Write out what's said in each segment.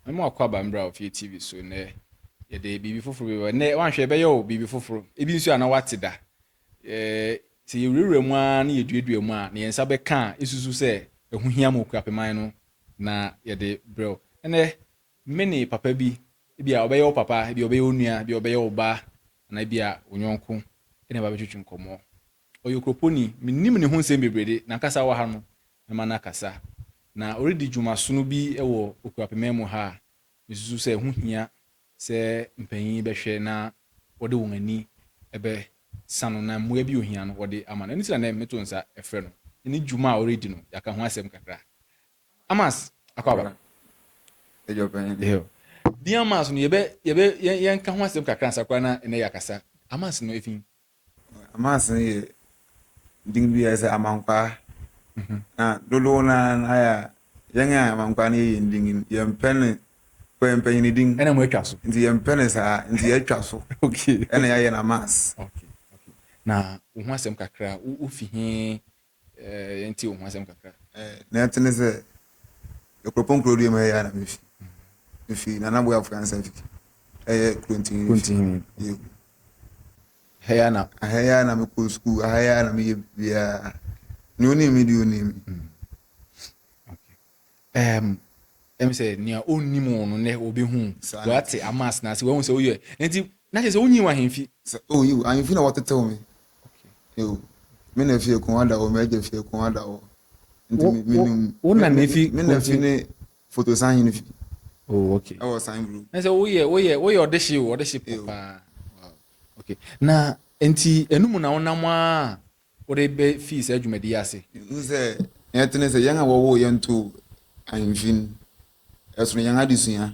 Me mo akɔ aba mbra ofie TV so nɛ yɛde biribi foforo bi bɛba nɛ wanhwɛ ɛbɛyɛ o biribi foforo ebi nso a na wate da ɛɛ sɛ yɛwurawura mu ara ne yɛduadua mu a ne yɛn nsa bɛka a esusu sɛ ɛho hia ma okura peman no na yɛde brɛ o ɛnɛ me ne papa bi ebi a ɔbɛyɛ wo papa ebi a ɔbɛyɛ wo nua ebi a ɔbɛyɛ wo ba anaa ebi a wo nyɔnko ɛna ɛba bɛtwitwi nkɔmɔ ɔyɛ okroponi menim ne ho nsɛm bebree de nankasa wɔ ha no mɛma no akasa. Na ɔredi dwuma sono bi wɔ Okuapema mu ha a, mesusu sɛ ɛho hia sɛ mpanyin bɛhwɛ na wɔde wɔn ani bɛsa no na mmoa bi a ohia no wɔde ama no. Ɛno nti na nnɛ meto nsa frɛ no na ne dwuma a ɔredi no, yɛaka ho asɛm kakra. Amas Akwaaba. Agya Ɔpanyin. Eeio. Din Amas no, yɛbɛ, yɛbɛ, yɛn, yɛnka ho asɛm kakra ansa koraa na nnɛ yɛakasa. Amas no, efi Amansan yɛ din bi a ɛsɛ amankwaa na dodow no ara no ayɛ a yɛn a amankwaa no yɛ yɛn din no yɛmpɛ ne kɔ yɛmpɛ yɛn din ɛna mo atwa so nti yɛmpɛ ne saa nti yɛatwa so okay ɛna yɛayɛ no amans okay okay na wo ho asɛm kakra wofi he Eh, yɛntie wo ho asɛm kakra. Eh, na ɛte ne sɛ Akuropɔn kuro deɛ mu ɛyɛ a na mefi. Mefi Nana Boafo Ansa Fiki. Ɛyɛ Kurontihi. Kurontihi. Yɛ. Ɛhɛ yɛ a na. Ɛhɛ yɛ a na mekɔ sukuu, ɛhɛ yɛ a na meyɛ biribiara. Nea onim me deɛ onim me. Mm. Um, ɛm sɛ nea ɔnnim wo no nɛ ɔbɛhu wate ama asena ase wahu sɛ woyɛ nti na kyɛ sɛ wonyi wo ahemfi oh, yiw ahemfi na wɔtetew me yiw me na fie ko ada hɔ m'agya fie ko ada hɔ nti menim wo na na fi me na fi ne foto san hene fi oh okay ɛwɔ san bro na sɛ woyɛ woyɛ woyɛ ɔde hye o ɔde hye paa okay na nti ɛno mu na wonam a wode befii saa dwumadi yi ase? Hu sɛ nea ɛte ne sɛ, yɛn a wɔwoo yɛn too ahemfi no, ɛsono yɛn adesua,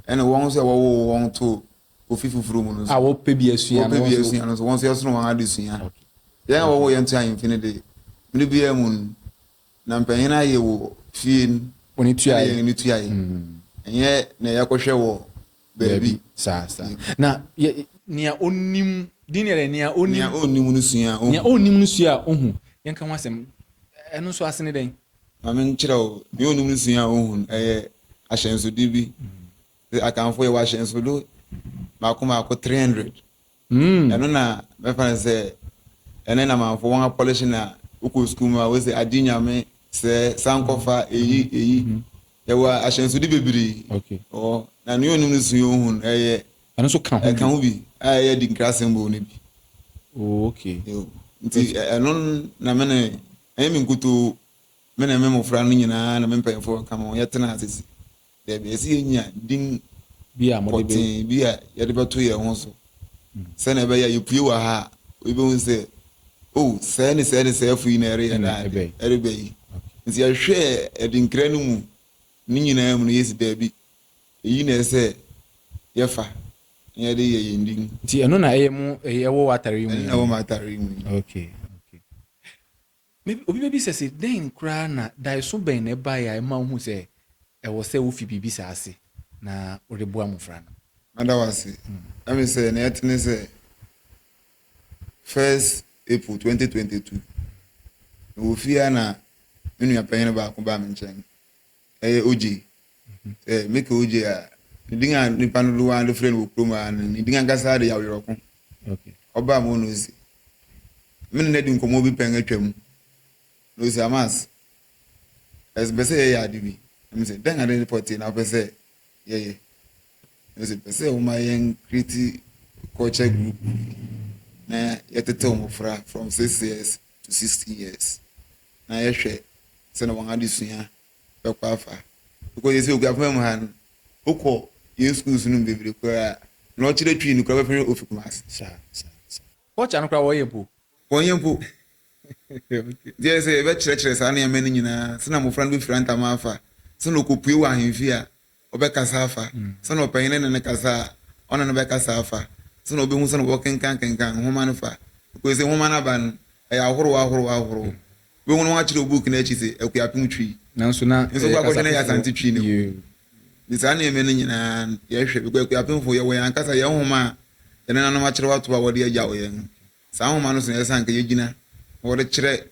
ɛne wɔn nso a wɔwoo wɔn too ofi foforo mu no nso. A wɔpɛ bi asua no, wɔpɛ bi asua no nso, wɔn nso ɛsono wɔn adesua. Yɛn a wɔwoo yɛn too ahemfi no de, mmere biara mu no, na mpanyin ayɛ wɔ fie no, ɛne yɛn ne tuae, ɛnyɛ nea yɛkɔhwɛ wɔ Dabi, saa, saa. Na yɛ, nea onim, din ne yɛdɛ, nea onim. Nea onnim no sua a ohu. Nea onnim no sua a ohu. Yɛnka ho asɛm. Ɛno nso ase ne dɛn? Ma menkyerɛ wo. Nea onnim no sua a ohu no, ɛyɛ ahyɛnsode bi. Akanfo, yɛwɔ ahyɛnsode baako baako three hundred. Ɛno na mɛfa no sɛ ɛne Lamanfoɔ wɔn apɔlehye na wokɔ sukuu mu a wose agye nyame sɛ san kɔfa eyi eyi yɛwɔ ahyɛnsode bebree ɔ na nea onim no sua ohu no ɛyɛ ɛno nso ka ho ɛka ho bi a ɛyɛ di nkrasɛm bɔ no bi oh, okay nti ɛno na me ne ɛyɛ me nkutoo me ne me mmofra no nyinaa na me mpanyinfoɔ ka me ho yɛtena asese Dabi, ɛsɛ yenya din pɔtee bi a yɛde bɛto yɛn ho so sɛnea ɛbɛyɛ a yepue wɔ ha a, obi behu sɛ, Oh, sɛɛ ne sɛɛ ne sɛɛfo yi na ɛreyɛ daa ade, ɛreba yi. Nti yɛhwɛɛ adinkra no mu ne nyinaa mu no, yesi dabi, eyi na ɛsɛ sɛ yɛfa na yɛde yɛ yɛn din. Nti ɛno na ɛyɛ mo, ɛwɔ w'atare yi mu yi? Ɛno na ɛwɔ m'atare yi mu yi. Okay. Maybe obi bebisa se, Dɛn koraa na, daeso bɛn na ɛbae a ɛma wuhu sɛ ɛwɔ sɛ wufi biribi saa ase na wode boa mmofra no? Mada wo ase. Na me sɛ nea ɛte ne sɛ first April twenty twenty two, mewɔ fie a na me nua panyin no baako baa me nkyɛn. Ɛyɛ ogye. Sɛ meka ogye a, ne din a nnipa no dodow ara de frɛ no wɔ kurom ha no, ne din ankasa de yɛ Awerɛko. Ɔbaa mu na ose, me ne no adi nkɔmmɔ bi pɛn atwam, na ose, Amas, mepɛ sɛ yɛyɛ ade bi. Na mise, Dɛn ade pɔtee na wopɛ sɛ yɛyɛ? Na ose, Mepɛ sɛ woma yɛnkreti culture group bi na yɛtetew mmofra from six years to sixteen years na yɛhwɛ sɛnea wɔn adesua bɛkɔ afa because yɛsɛ okuafo fam ha no wokɔ yɛn schools no mu bebree koraa a na ɔkyerɛ twi no koraa bɛfrɛ ofi kumase saa saa saa culture no koraa wɔyɛ mpo wɔnyɛ mpo deɛ sɛ yɛbɛkyerɛkyerɛ saa nneɛma no nyinaa sɛnea mmɔfra no bɛfiri antama afa sɛnea ɔkɔpue wɔ ahemfie a ɔbɛkasa afa, sɛnea ɔpanyin no ne no kasa a, ɔne no bɛkasa afa, sɛnea obehu sɛnea wɔkenkankenkan nhoma no fa. Nokorɛ sɛ, nwoma no aba no, ɛyɛ ahorow ahorow ahorow. Wubehu na wɔakyerɛw book no akyi sɛ, Akuapem Twi. Nanso na ɛyɛ kasa foforɔ. Nso kɔ akɔhwɛ na ɛyɛ Asante Twi na ɛwom. Nti saa nneɛma no nyinaa yɛhwɛ, because Akuapemfo, yɛwɔ yɛn ankasa yɛn nhoma a yɛn nenanom akyerɛw ato hɔ a wɔde agyaw yɛn no. Saa nwoma no so na ɛsɛ sɛ anka yegyina na wɔde kyerɛ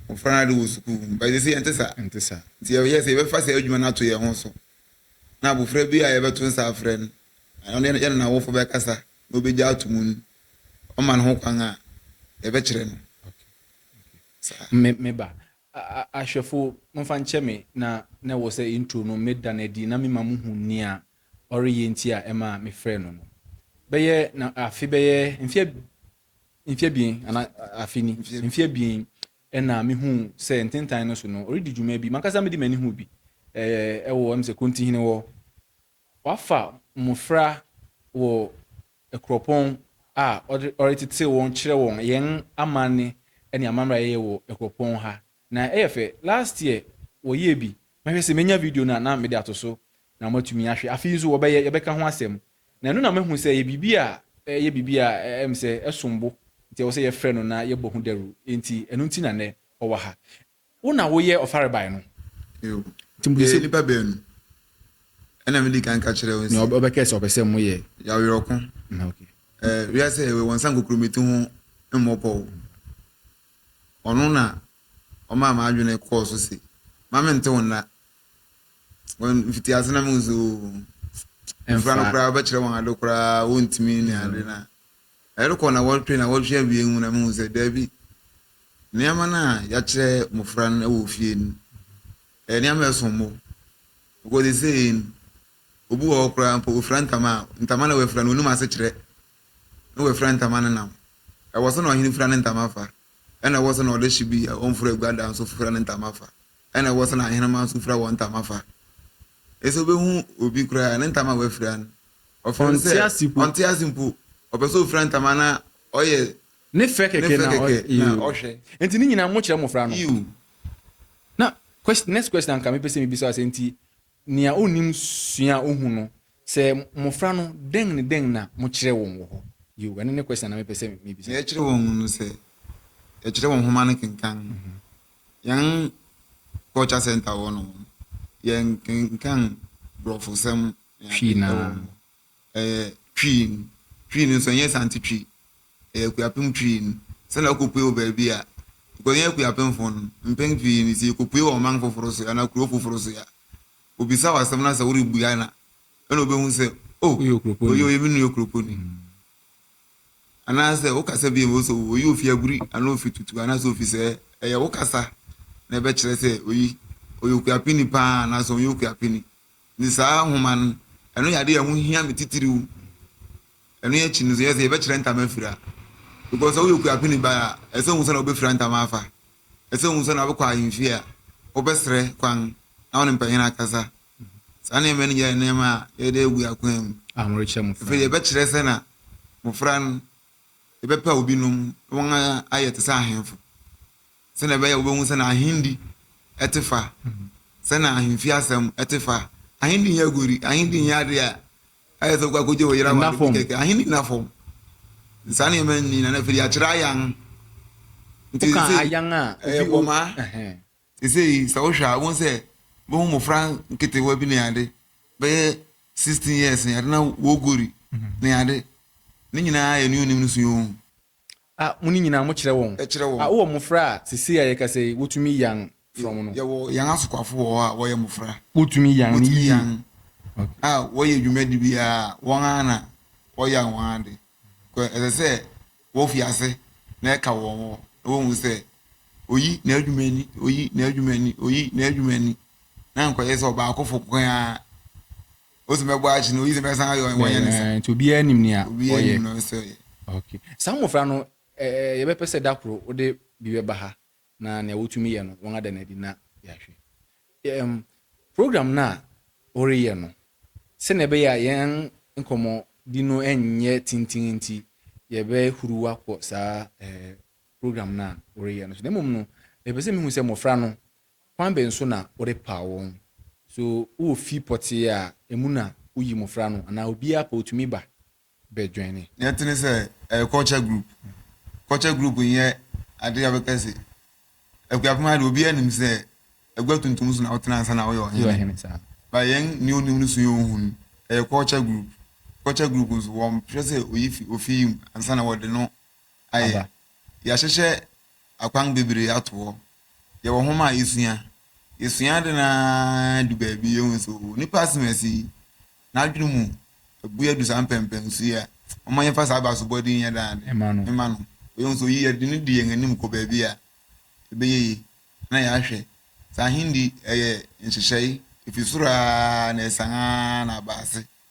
mmofra no ade wɔ sukuu mu. But seesei ɛnte saa. Ɛnte saa. Nti yɛhwɛ sɛ yɛbɛfa saa adwuma no ato yɛn ho so, na abofra bi a yɛbɛto nsa afrɛ no, na ɔne yɛne n'awofo bɛkasa na obegye atom no, wɔma no ho kwan a, yɛbɛkyerɛ no. Saa. Me, me ba, a, ahwɛfo, momfa nkyɛ me, na, na ɛwɔ sɛ intro no meda no adi na mema mo hu nea ɔreyɛ nti a ɛma mefrɛɛ no no. Bɛyɛ na afe bɛyɛ mfe mfe abien ana afe ni mfe abien ɛna mehuu sɛ ntentan no so no ɔredi dwuma bi mankasa mede m'ani hu bi ɛɛ ɛwɔ ɛm sɛ Kontihene hɔ wafa mmofra wɔ Akuropɔn a ɔretete wɔn kyerɛ wɔn yɛn amanne ne amammerɛ a yɛyɛ wɔ Akuropɔn ha Na ɛyɛ fɛ. Last year wɔyɛɛ bi. Mɛhwɛ sɛ mɛnya video no a na mede ato so na moatumi ahwɛ. Afei nso wɔbɛyɛ, yɛbɛka ho asɛm. Na ɛno na mahu sɛ ɛyɛ biribi a ɛyɛ biribi a ɛyɛ me sɛ ɛsom bo nti ɛwɔ sɛ yɛfrɛ no na yɛbɔ ho dawuru. Enti ɛno nti na nnɛ ɔwɔ ha. Wo na woyɛ ɔfarebae no? Yiw. Yɛyɛ nnipa baanu. Ɛna medi kan ka kyerɛɛ wɔn sɛ. Nea ɔbɛkae sɛ ɔpɛ sɛ moyɛ. Yɛ awerɛhoko. Wiase a yɛwɔ yi, wɔnsan kokurobeti ho mmɔ pɔw. Ɔno na ɔmaa m'adwene kɔɔ so se, Mma mente wo nna. Wɔ mfitiase na mehu se, oo, mmofra no koraa wobɛkyerɛ wɔn ade koraa a, wontumi nni ade. Na ɛrekɔ nnawɔtwe nnawɔtwe awiei mu na mehu sɛ, dabi, nneɛma no a yɛakyerɛ mmofra no wɔ ofie no, ɛyɛ nneɛma a ɛsom bo. Because seesei no, obi wɔ hɔ koraa mpo, ofura ntama a, ntama na wafura no, onnim asekyerɛ. na oefura ntama ne nam. Ɔwɔ sɛ na ɔhen fura ne ntama fa, na ɔwɔ sɛ na ɔdehye bi a ɔmmfura egua da nso fura ne ntama fa, na ɔwɔ sɛ na ahenema nso fura hɔn ntama fa. Ese obehu obi koraa a, ne ntama a oefura no, ɔfrɛ no sɛ ɔnntse ase mpo, ɔpɛ sɛ ofura ntama na ɔyɛ ne fɛ kɛkɛ na ɔhwɛ. Ntsi ne nyina mokyerɛ mbofra no. Na, next question a nka mepɛ sɛ mibisa wo sɛ, ntsi. Nea onnim sua a ohu no, sɛ mmofra no, dɛn ne dɛn na mokyerɛ wɔn wɔ hɔ? Yiw, ɛno ne question a na mepɛ sɛ mibisa. Nea yɛkyerɛ wɔn no, sɛ yɛkyerɛ wɔn nhoma no kenkan, yɛn Culture Center hɔ no, yɛnkenkan Borɔfosɛm ne ade wɔ hɔ. Ɛyɛ Twi no, Twi no nso ɛnyɛ Asante Twi, ɛyɛ Akuapem Twi no. Sɛnea wokɔpue wɔ baabi a, because yɛn Akuapemfo no, mpɛn pii no sɛ yɛkɔpue wɔ ɔman foforo so anaa kuro foforo so a, wɔbisa wo asɛm no a sɛ worebua no a, ɛna wɔbɛhu sɛ, oh, Woyɛ Okuroponi. wei ɔyɛ me nua Okuroponi. Anaasɛ wokasa bi a ɛbɛhu sɛ, oh, oyi ɔfi Aguri anaa ɔfi Tutu anaasɛ ɔfi sɛɛ. Ɛyɛ wo kasa na ɛbɛkyerɛ sɛ oyi, ɔyɛ Okuapeni pa ara anaasɛ ɔnyɛ Okuapeni. Enti saa nhoma no, ɛno yɛ ade a ɛho hia me titiriw. Ɛno akyi no, sɛ yɛbɛkyerɛ ntama afiri a, because sɛ woyɛ okuapeni ba a, ɛsɛ sɛ wuhu sɛnea wobefura ntama afa, ɛsɛ sɛ wuhu sɛnea wobɛkɔ ahemfi a, wobɛsrɛ kwan na wo ne mpanyin akasa. Saa nneɛma no nyinaa yɛ nneɛma a yɛde agu akwan mu. Afei yɛbɛkyerɛ sɛnea mmofra no, yɛbɛpaw binom na wɔayɛ te sɛ ahemfo. Sɛnea ɛbɛyɛ a wubehu sɛnea ahenni te fa, sɛnea ahemfi asɛm te fa. Ahenni nyɛ aguadi, ahenni nyɛ ade a ayɛ sɛ wokɔ akogye wo yere aware bi kɛkɛ. Ahenni nna fam. Saa nneɛma nni, na afei de yɛakyerɛ ayan. Nti seesei, ɛyɛ bɔmaa. Seesei sɛ wohwɛ a, wubehu sɛ wubehu mmofra nketewa bi ne ade, bɛyɛ sixteen years ne ade, na wɔreguari ne ade. Ne nyinaa yɛ nea onnim no sua oo. A mo ne nyinaa mo kyerɛ wɔn. Kyerɛ wɔn. A wowɔ mmofra a sesei a yɛkasa yi wotumi yan frɔmm no. Yɛwɔ yan asokwafo wɔ hɔ a wɔyɛ mmofra. Wotumi yan no yiye. Wotumi yan. A wɔyɛ dwumadi biara a wɔn ara na wɔyan wɔn ade. Kɔ ɛsɛ sɛ wofi ase na ɛka wɔn hɔ na wohu sɛ oyi n'adwuma ni, oyi n'adwuma ni, oyi n'adwuma ni, na nkɔyɛ sɛ ɔbaakofo nko ara Ose mɛbɔ akye na oyi sɛ mɛsan ayɛ ɔyɛ wɔnyɛ ne sa. Nti obiara nim nea ɔyɛ. Obiara nim na ɔsɛ ɔyɛ. Okay. Saa mmofra no ɛɛ yɛbɛpɛ sɛ da koro wode bi bɛba ha na nea wotumi yɛ no wɔada no adi na yɛahwɛ. Ɛɛm program no a woreyɛ no sɛnea ɛbɛyɛ a yɛn nkɔmmɔdi no nyɛ tenten nti yɛbɛhuruw akɔ saa ɛɛ program no a woreyɛ no so na mmom no mepɛ sɛ mihu sɛ mmofra no Ɔkwan bɛn so na wode paw wɔn? So wowɔ fi pɔtee a emu na wuyi mmofra no anaa obiara pɛ otumi ba bɛdwɛn? Nea ɛte ne sɛ, ɛyɛ culture group. Culture group nyɛ ade a wobɛka se Akuapem ha de obiara nim sɛ agua tuntum so na wotena ansa na woyɛ ɔhene. But yɛn nea onim no sua ohu no. Ɛyɛ culture group. Culture group nso wɔmpɛ sɛ oyi fi ofi yi mu ansa na wɔde no aba. Yɛahyehyɛ akwan bebree ato hɔ. Yɛwɔ nhoma a yɛsua. Yɛsua ade no ara du baabi, yɛhu sɛ oo, nipa asɛm a ɛsi yi, n'adwene mu abue adu saa mpɛnpɛn so yi a, momma yɛmfa saa abasobɔde yi nyɛ dɛ ade mma no. Yɛhu sɛ oyi, yɛde no di yɛn anim kɔ baabi a, ɛbɛyɛ yie. Na yɛahwɛ. Saa ahenni, ɛyɛ nhyehyɛe, efi soro ara na ɛsian ara na aba ase.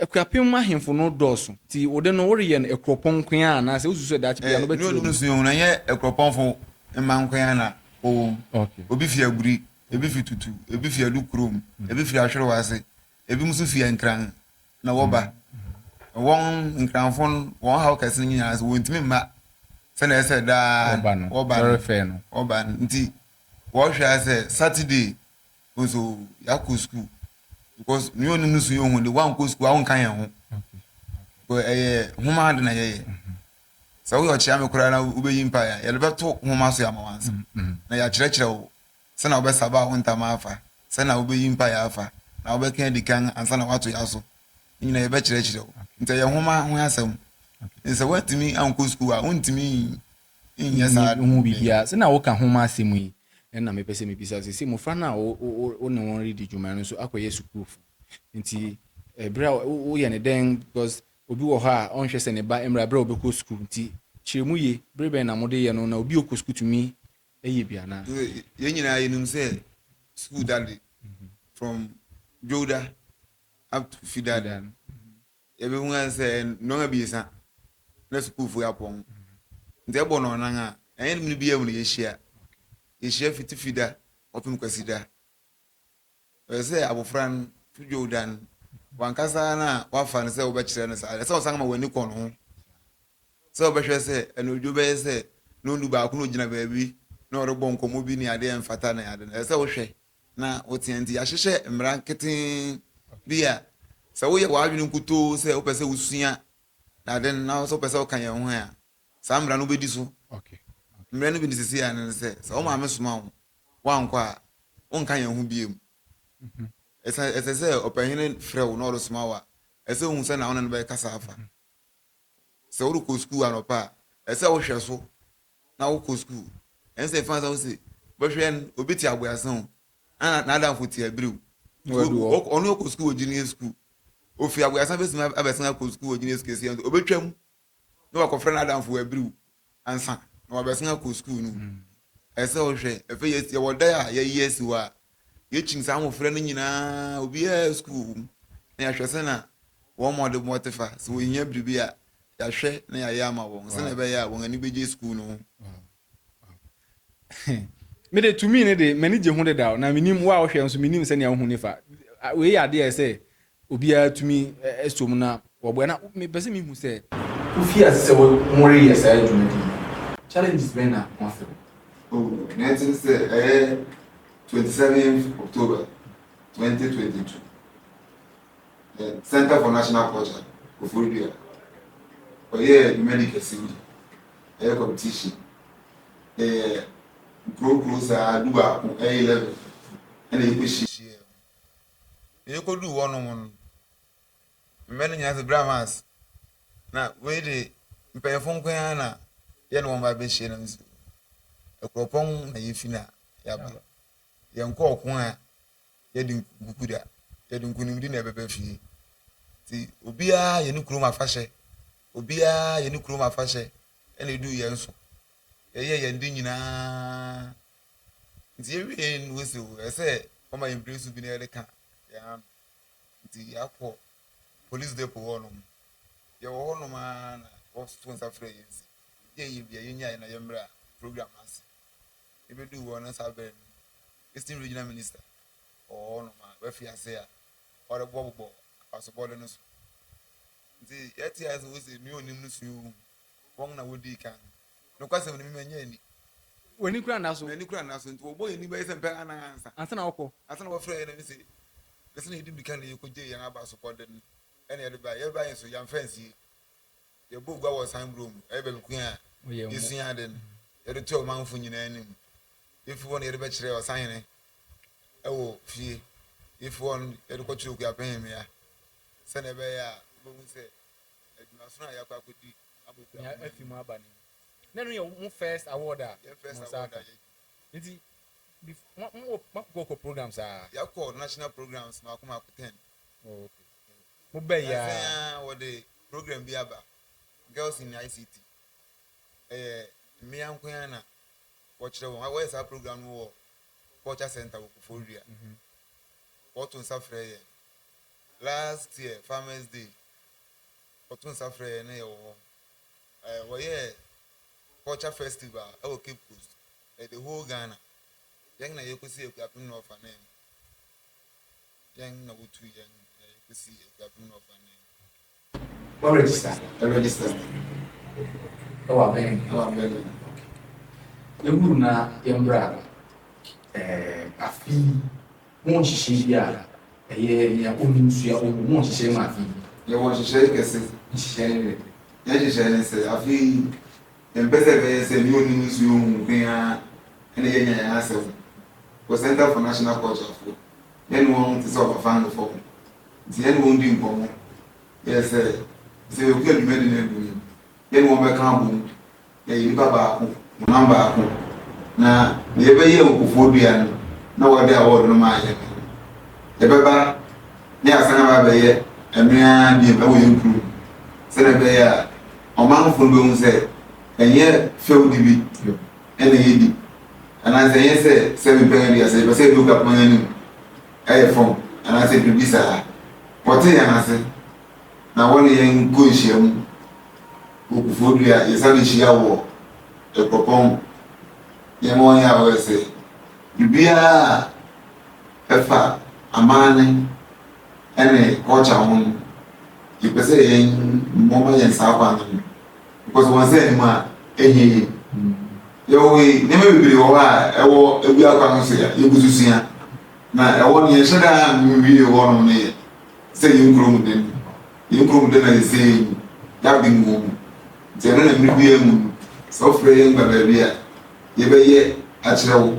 Akuapem mu ahemfo no dɔɔso, nti wo de no woreyɛ no akuropɔn nko ara anaa sɛ wosusu sɛ daakye biara no wobɛte wɔ mu? Ɛɛ, ne ɔde no suahunu, ɛnyɛ akuropɔnfo mma nko ara na wɔwɔ mu. Obi fi Aguri, ebi fi Tutu, ebi fi Adu kurom, ebi fi Ahwerew ase, ebinom nso fi Nkran na wɔba. Wɔn, Nkranfo no, wɔn haw kɛse no nyinaa ara ne sɛ wɔntumi mma sɛnea ɛsɛ sɛ daa wɔba no, wɔba no, nti wɔhwɛ ara sɛ Saturday, Wohu sɛ oo, yɛakɔ sukuu. Because me ne ɔnom no su yɛ hu de, woankɔ sukuu a wonka yɛn ho. Because ɛyɛ nwoma ade na yɛyɛ. Sɛ woyɛ ɔkyea me koraa na wobɛyi mpaeɛ a, yɛde bɛto nwoma so ama w'ansa. Na yɛakyerɛkyerɛ wo sɛnea wobɛsaba wo ntama afa, sɛnea wobɛyi mpaeɛ afa, na wobɛka adi kan ansa na woato yɛn aso. Ne nyinaa yɛbɛkyerɛkyerɛ wo. Nti ɛyɛ nwoma ho asɛm. Nti sɛ woantumi ankɔ sukuu a, wontumi Nyɛ saa ade no bi. Mennye ho biribiara. Sɛnea woka ho asɛm yi na mepɛ sɛ mibisa wo. Seesei mmofra no a wo ne wɔn redi dwuma no nso akɔyɛ sukuufo. Enti bere a woyɛ no dɛn? Because obi wɔ hɔ a ɔnhwɛ sɛ ne ba mmra bere a ɔbɛkɔ sukuu. Enti kyerɛ mu ye. Bere bɛn na mode yɛ no, na obi a ɔkɔ sukuu tumi yɛ bi anaa? Yɛn nyinaa yenim sɛ sukuu da de, from Dwowda up to Fida da no, Yɛbɛhu ara sɛ nnɔn abiɛsa na sukuufo yi apɔn. Nti ɛbɔ nnɔnnan a, ɛnyɛ nnum no biara mu na yɛhyia. Yɛhyia fi Tifi da kɔpem Kwasida. Ɛsɛ sɛ abofra no to dwow da no, wankasa na wafa no sɛ wobɛkyerɛ no saa. Ɛsɛ sɛ ɔsan ma w'ani kɔ ne ho. Sɛ wobɛhwɛ sɛ anadwo bɛyɛ sɛ nnɔndu baako na ogyina baabi na ɔrebɔ nkɔmmɔ bi ne ade a ɛmfata ne ade no, ɛsɛ sɛ wohwɛ. na woteɛ nti, yɛahyehyɛ mmara nketee bi a sɛ woyɛ w'adwene nkutoo sɛ wopɛ sɛ wosua ade no na sɛ wopɛ sɛ woka yɛn ho ɛ a, saa mmara no wobɛdi so. Mmara no bi ne sisi a ne sɛ, sɛ wo maame soma wo, woankɔ a, wonka yɛn ho biom. Mhm. Ɛsɛ sɛ ɔpɛhene frɛ wo na ɔresoma wo a, ɛsɛ wohu sɛ na wo ne no bɛkasa afa. Sɛ worekɔ sukuu anɔpa a, ɛsɛ wohwɛ so na wokɔ sukuu. Ɛnsɛ sɛ ɛfa sɛ wo se wobɛhwɛ no, obi te aboɛasen o, na n'adamfo te abiri o. Ɔno ɔkɔ sukuu wɔ junior sukuu. Ofi aboɛasen bɛtumi abɛsen akɔ sukuu wɔ junior sukuu kɛseɛ no so. Ɔbɛtwam na wakɔfrɛ n'adamfo wɔ abiri o ansa na wabɛsen akɔ sukuu no mu. Ɛsɛ sɛ wohwɛ. Afei yɛwɔ dan a yɛayi asi hɔ a Yɛkyin saa mmofra no nyinaa, obiara sukuu wom, na yɛhwɛ sɛnea wɔn mmɔdemmɔ te fa. Sɛ wɔhia biribi a, yɛahwɛ na yɛayɛ ama wɔn sɛnea ɛbɛyɛ a wɔn ani begye sukuu no ho. Me de, tumi no de, m'ani gye ho dedaw, na minim, wo a wohwɛ nso, minim sɛnea wuhu no fa. Wei yɛ ade a ɛsɛ sɛ Obiara tumi sɔ mu na waboa na mepɛ sɛ mihu sɛ. Wofii ase sɛ woreyɛ saa dwumadi yi, challenges bɛn na moafa mu? Oh, nea ɛte ne sɛ ɛyɛ twenty seventh October twenty twenty two, Centre for National Culture, Koforidua, wɔyɛɛ dwumadi kɛse bi, ɛyɛ competition, yɛyɛ nkurow nkurow saa dubaako, ɛyɛ eleven ɛna yɛkɔ hyiaɛ mu. Yekoduu hɔ no ho no, mmɛ no nyinaa fi Brahmans, na wei de mpanyinfo nko ara na yɛne wɔn ba bɛhyia nam si Akuropɔn na yɛfi na yɛaba. Yɛnkɔ ɔko a yɛde nkuku da, yɛde nkonimdi na ɛbɛba fie. Nti obiara yɛ ne kurom afahyɛ, obiara yɛ ne kurom afahyɛ ɛna eduu yɛn so. Yɛyɛ yɛn de nyinaa. Nti yɛwiee no ose o, ɛsɛ sɛ wɔma yɛn bere so bi na yɛde ka yɛn ano. Nti yɛakɔ police depot hɔnom. Yɛwɔ hɔnom ara na wɔtoo nsa frɛɛ yɛn se, yɛn yɛ bi a yɛnnyae na yɛmmra program no ase. Yebeduu hɔ no saa bere no, Eastern Regional Minister wɔ hɔnom a wafi ase a ɔrebobɔbobɔ abasobɔde no so. Nti yɛtee ase sɛ wose nea onnim no sua ohu. Wɔn na wodii kan Nokwasɛm no, me manya ani. W'ani kura nna so. M'ani kura nna so. Nti wɔbɔɔ yɛn ani bɛyɛ sɛ mpɛn anan ansa. Ansa na wɔkɔ. Ansa na wɔfrɛɛ yɛn na mise, Mise na yɛdi mirika na yɛkɔgyee yɛn abasopɔden na yɛde baeɛ. Yɛrebaeɛ nso, yɛamfa ansie. Yɛbɔɔ gua wɔ San Bruno mu. Ɛyɛ baabi ko a yɛsuaa ade no. Yɛde toaa ɔmanfo nyinaa anim. Yɛfiri hɔ no, yɛde bɛkyerɛɛ ɔsahene wɔ fie. Yɛfiri hɔ no, yɛde kɔkyerɛɛ Okuapehemmea sɛdeɛ ɛbɛyɛ a wobɛhu sɛ Adumason a yɛakɔ akɔdi ama okuafo Nea afi mu aba ni. Na ɛno yɛ mo first award a Yɛn first mo nsa award a aka? yɛadi. Nti before mo mo wɔ moakɔkɔ programs aa? Yɛakɔ national programs mmaako mmaako ten. Oh ok. Mo bɛɛ yɛ Nnansa yi aa? ara wɔde program bi aba, Girls in ICT. Ɛyɛ mmea nko ara na wɔkyerɛ wɔn. Wɔyɛ saa program no wɔ Culture Centre wɔ Koforidua. Wɔto nsa frɛ yɛn. Last year farmers day wɔto nsa frɛ yɛn na yɛwɔ hɔ eh, wɔyɛɛ culture festival ɛwɔ Cape Coast eh, the whole Ghana yɛn na yɛkɔsi Akuapem na ɔfa nan mu yɛn na wotu yɛn na yɛkɔsi Akuapem na ɔfa nan mu. Mo register ɛ register ɛ wɔ abɛn ɛ wɔ abɛn no yɛ wuru na yɛ mbra ɛ afi mo nhyehyɛ bi a ɛyɛ nea onim sua omu mo nhyehyɛ ma afi. Yɛ wɔ nhyehyɛ kɛse. Nhyehyɛ ne dɛ. Yɛ nhyehyɛ ne sɛ afi yɛ mpɛ sɛ ɛbɛyɛ sɛ nea onim sua omu nko ara ɛna yɛ nya yɛn asɛm wɔ Centre for National Culture fo yɛ ne wɔn te sɛ ɔbafa no fam. Nti yɛne wɔn dii nkɔmmɔ yɛɛ sɛ sɛ yɛkɔ a dwumadi no agu no, yɛne wɔn bɛka abom na yɛyɛ nnipa baako, honam baako, na deɛ yɛbɛyɛ awufoɔ dua no na wɔde awɔɔdo no maa yɛn no, yɛbɛba na yɛasan aba abɛyɛ ɛno ara bio wɔ yɛn kuro mu sɛdeɛ ɛbɛyɛ a ɔmanfoɔ no bɛhu sɛ ɛnyɛ fɛwdi bi na yɛdi anaasɛ ɛnyɛ sɛ sɛ mepɛ yɛn deɛ sɛ yɛpɛ sɛ yɛde obi akoma yɛn anim Ɛyɛ fam anaasɛ biribi saa. Wɔte yɛn ase, na wɔne yɛn kɔ nhyiam wɔ Kufodua, yɛsan hyia wɔ Akuropɔn, yɛma wɔn yɛ aware sɛ biribiara a ɛfa aman no ne culture ho no, yɛpɛ sɛ yɛn wɔma yɛn saa kwan no. Because wɔn nsa nni mu a, ɛnyɛ yie. Yɛwɔ wei, nneɛma bebree wɔ hɔ a ɛwɔ ɛwi akwan no so a yɛgu so sua. Na ɛwɔ no yɛnhyɛ da nwie hɔ nom no yɛ sɛ yɛn kuro mu den. Yɛn kuro mu den ayɛ sɛ yɛn mu, yɛaben wɔ mu. Nti ɛno na mmere biara mu no sɛ wofrɛ yɛn ba baabi a yɛbɛyɛ akyerɛ wo.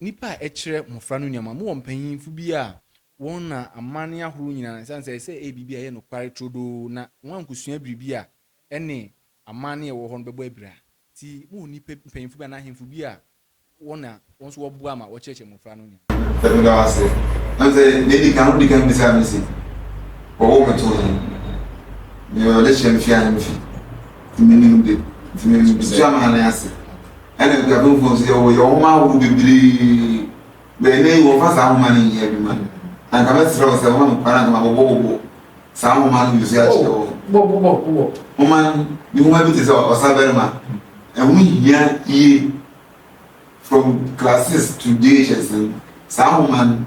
Nnipa a ɛkyerɛ mmofra no nneɛma. Mowɔ mpanyimfo bi a wɔn na amanne ahorow nyinaa, esiane sɛ ɛsɛ sɛ ɛyɛ biribi a ɛyɛ nokware turodoo na wɔankosua biribi a ɛne amanne a ɛwɔ hɔ no bɛbɔ abira nti, mowɔ nnipa mpanyimfo bi anaa ahemfo bi a wɔn na wɔn nso wɔboa ma wɔkyerɛkyerɛ mmofra no nneɛma. Sɛ meda wo ase. Ɛne sɛ nea edi kan no wodi kan bisaa me se, Wɔwoo me too he? Nea ɔde kyerɛ me fie a ne me fi. Nti menim de, nti metua m'ahanne ase. Ɛna akuadomfoɔ nso yɛwɔ yɛn nwoma ahorow bebree. But ɛnɛ yi wɔmfa saa nwoma no nyɛ adwuma. Na nka mɛsrɛ wo sɛ woma me kwan a nka mabobɔbobɔ saa nwoma no nso akyerɛ wo. Bobɔbobɔ. Nwoma no, ne nwoma bi te sɛ Ɔsabarima. Ɛho hia yie from classes to DHS no. Saa nwoma no.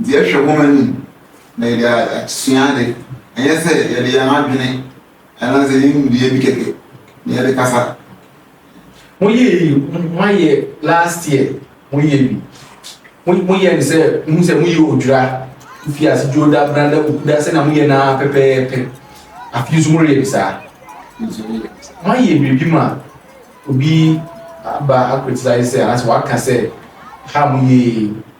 Nti yɛhwɛ hom enyim na yɛdze asua adze, nnyɛ sɛ yɛdze hɛn adwen anadze yenyim dua bi kɛkɛ na yɛdze kasa. Mo yɛ eyi mo ayɛ last year mo yɛ bi mo mo yɛ no sɛ mo hu sɛ mo yɛ odwira ofi ase dwoda branda bukuda sɛnea mo yɛ no ara pɛpɛɛpɛ afe yi so mo reyɛ bi saa mo ayɛ biribi ma obi aba akritisize sɛ anaasɛ waka sɛ ha mo yɛ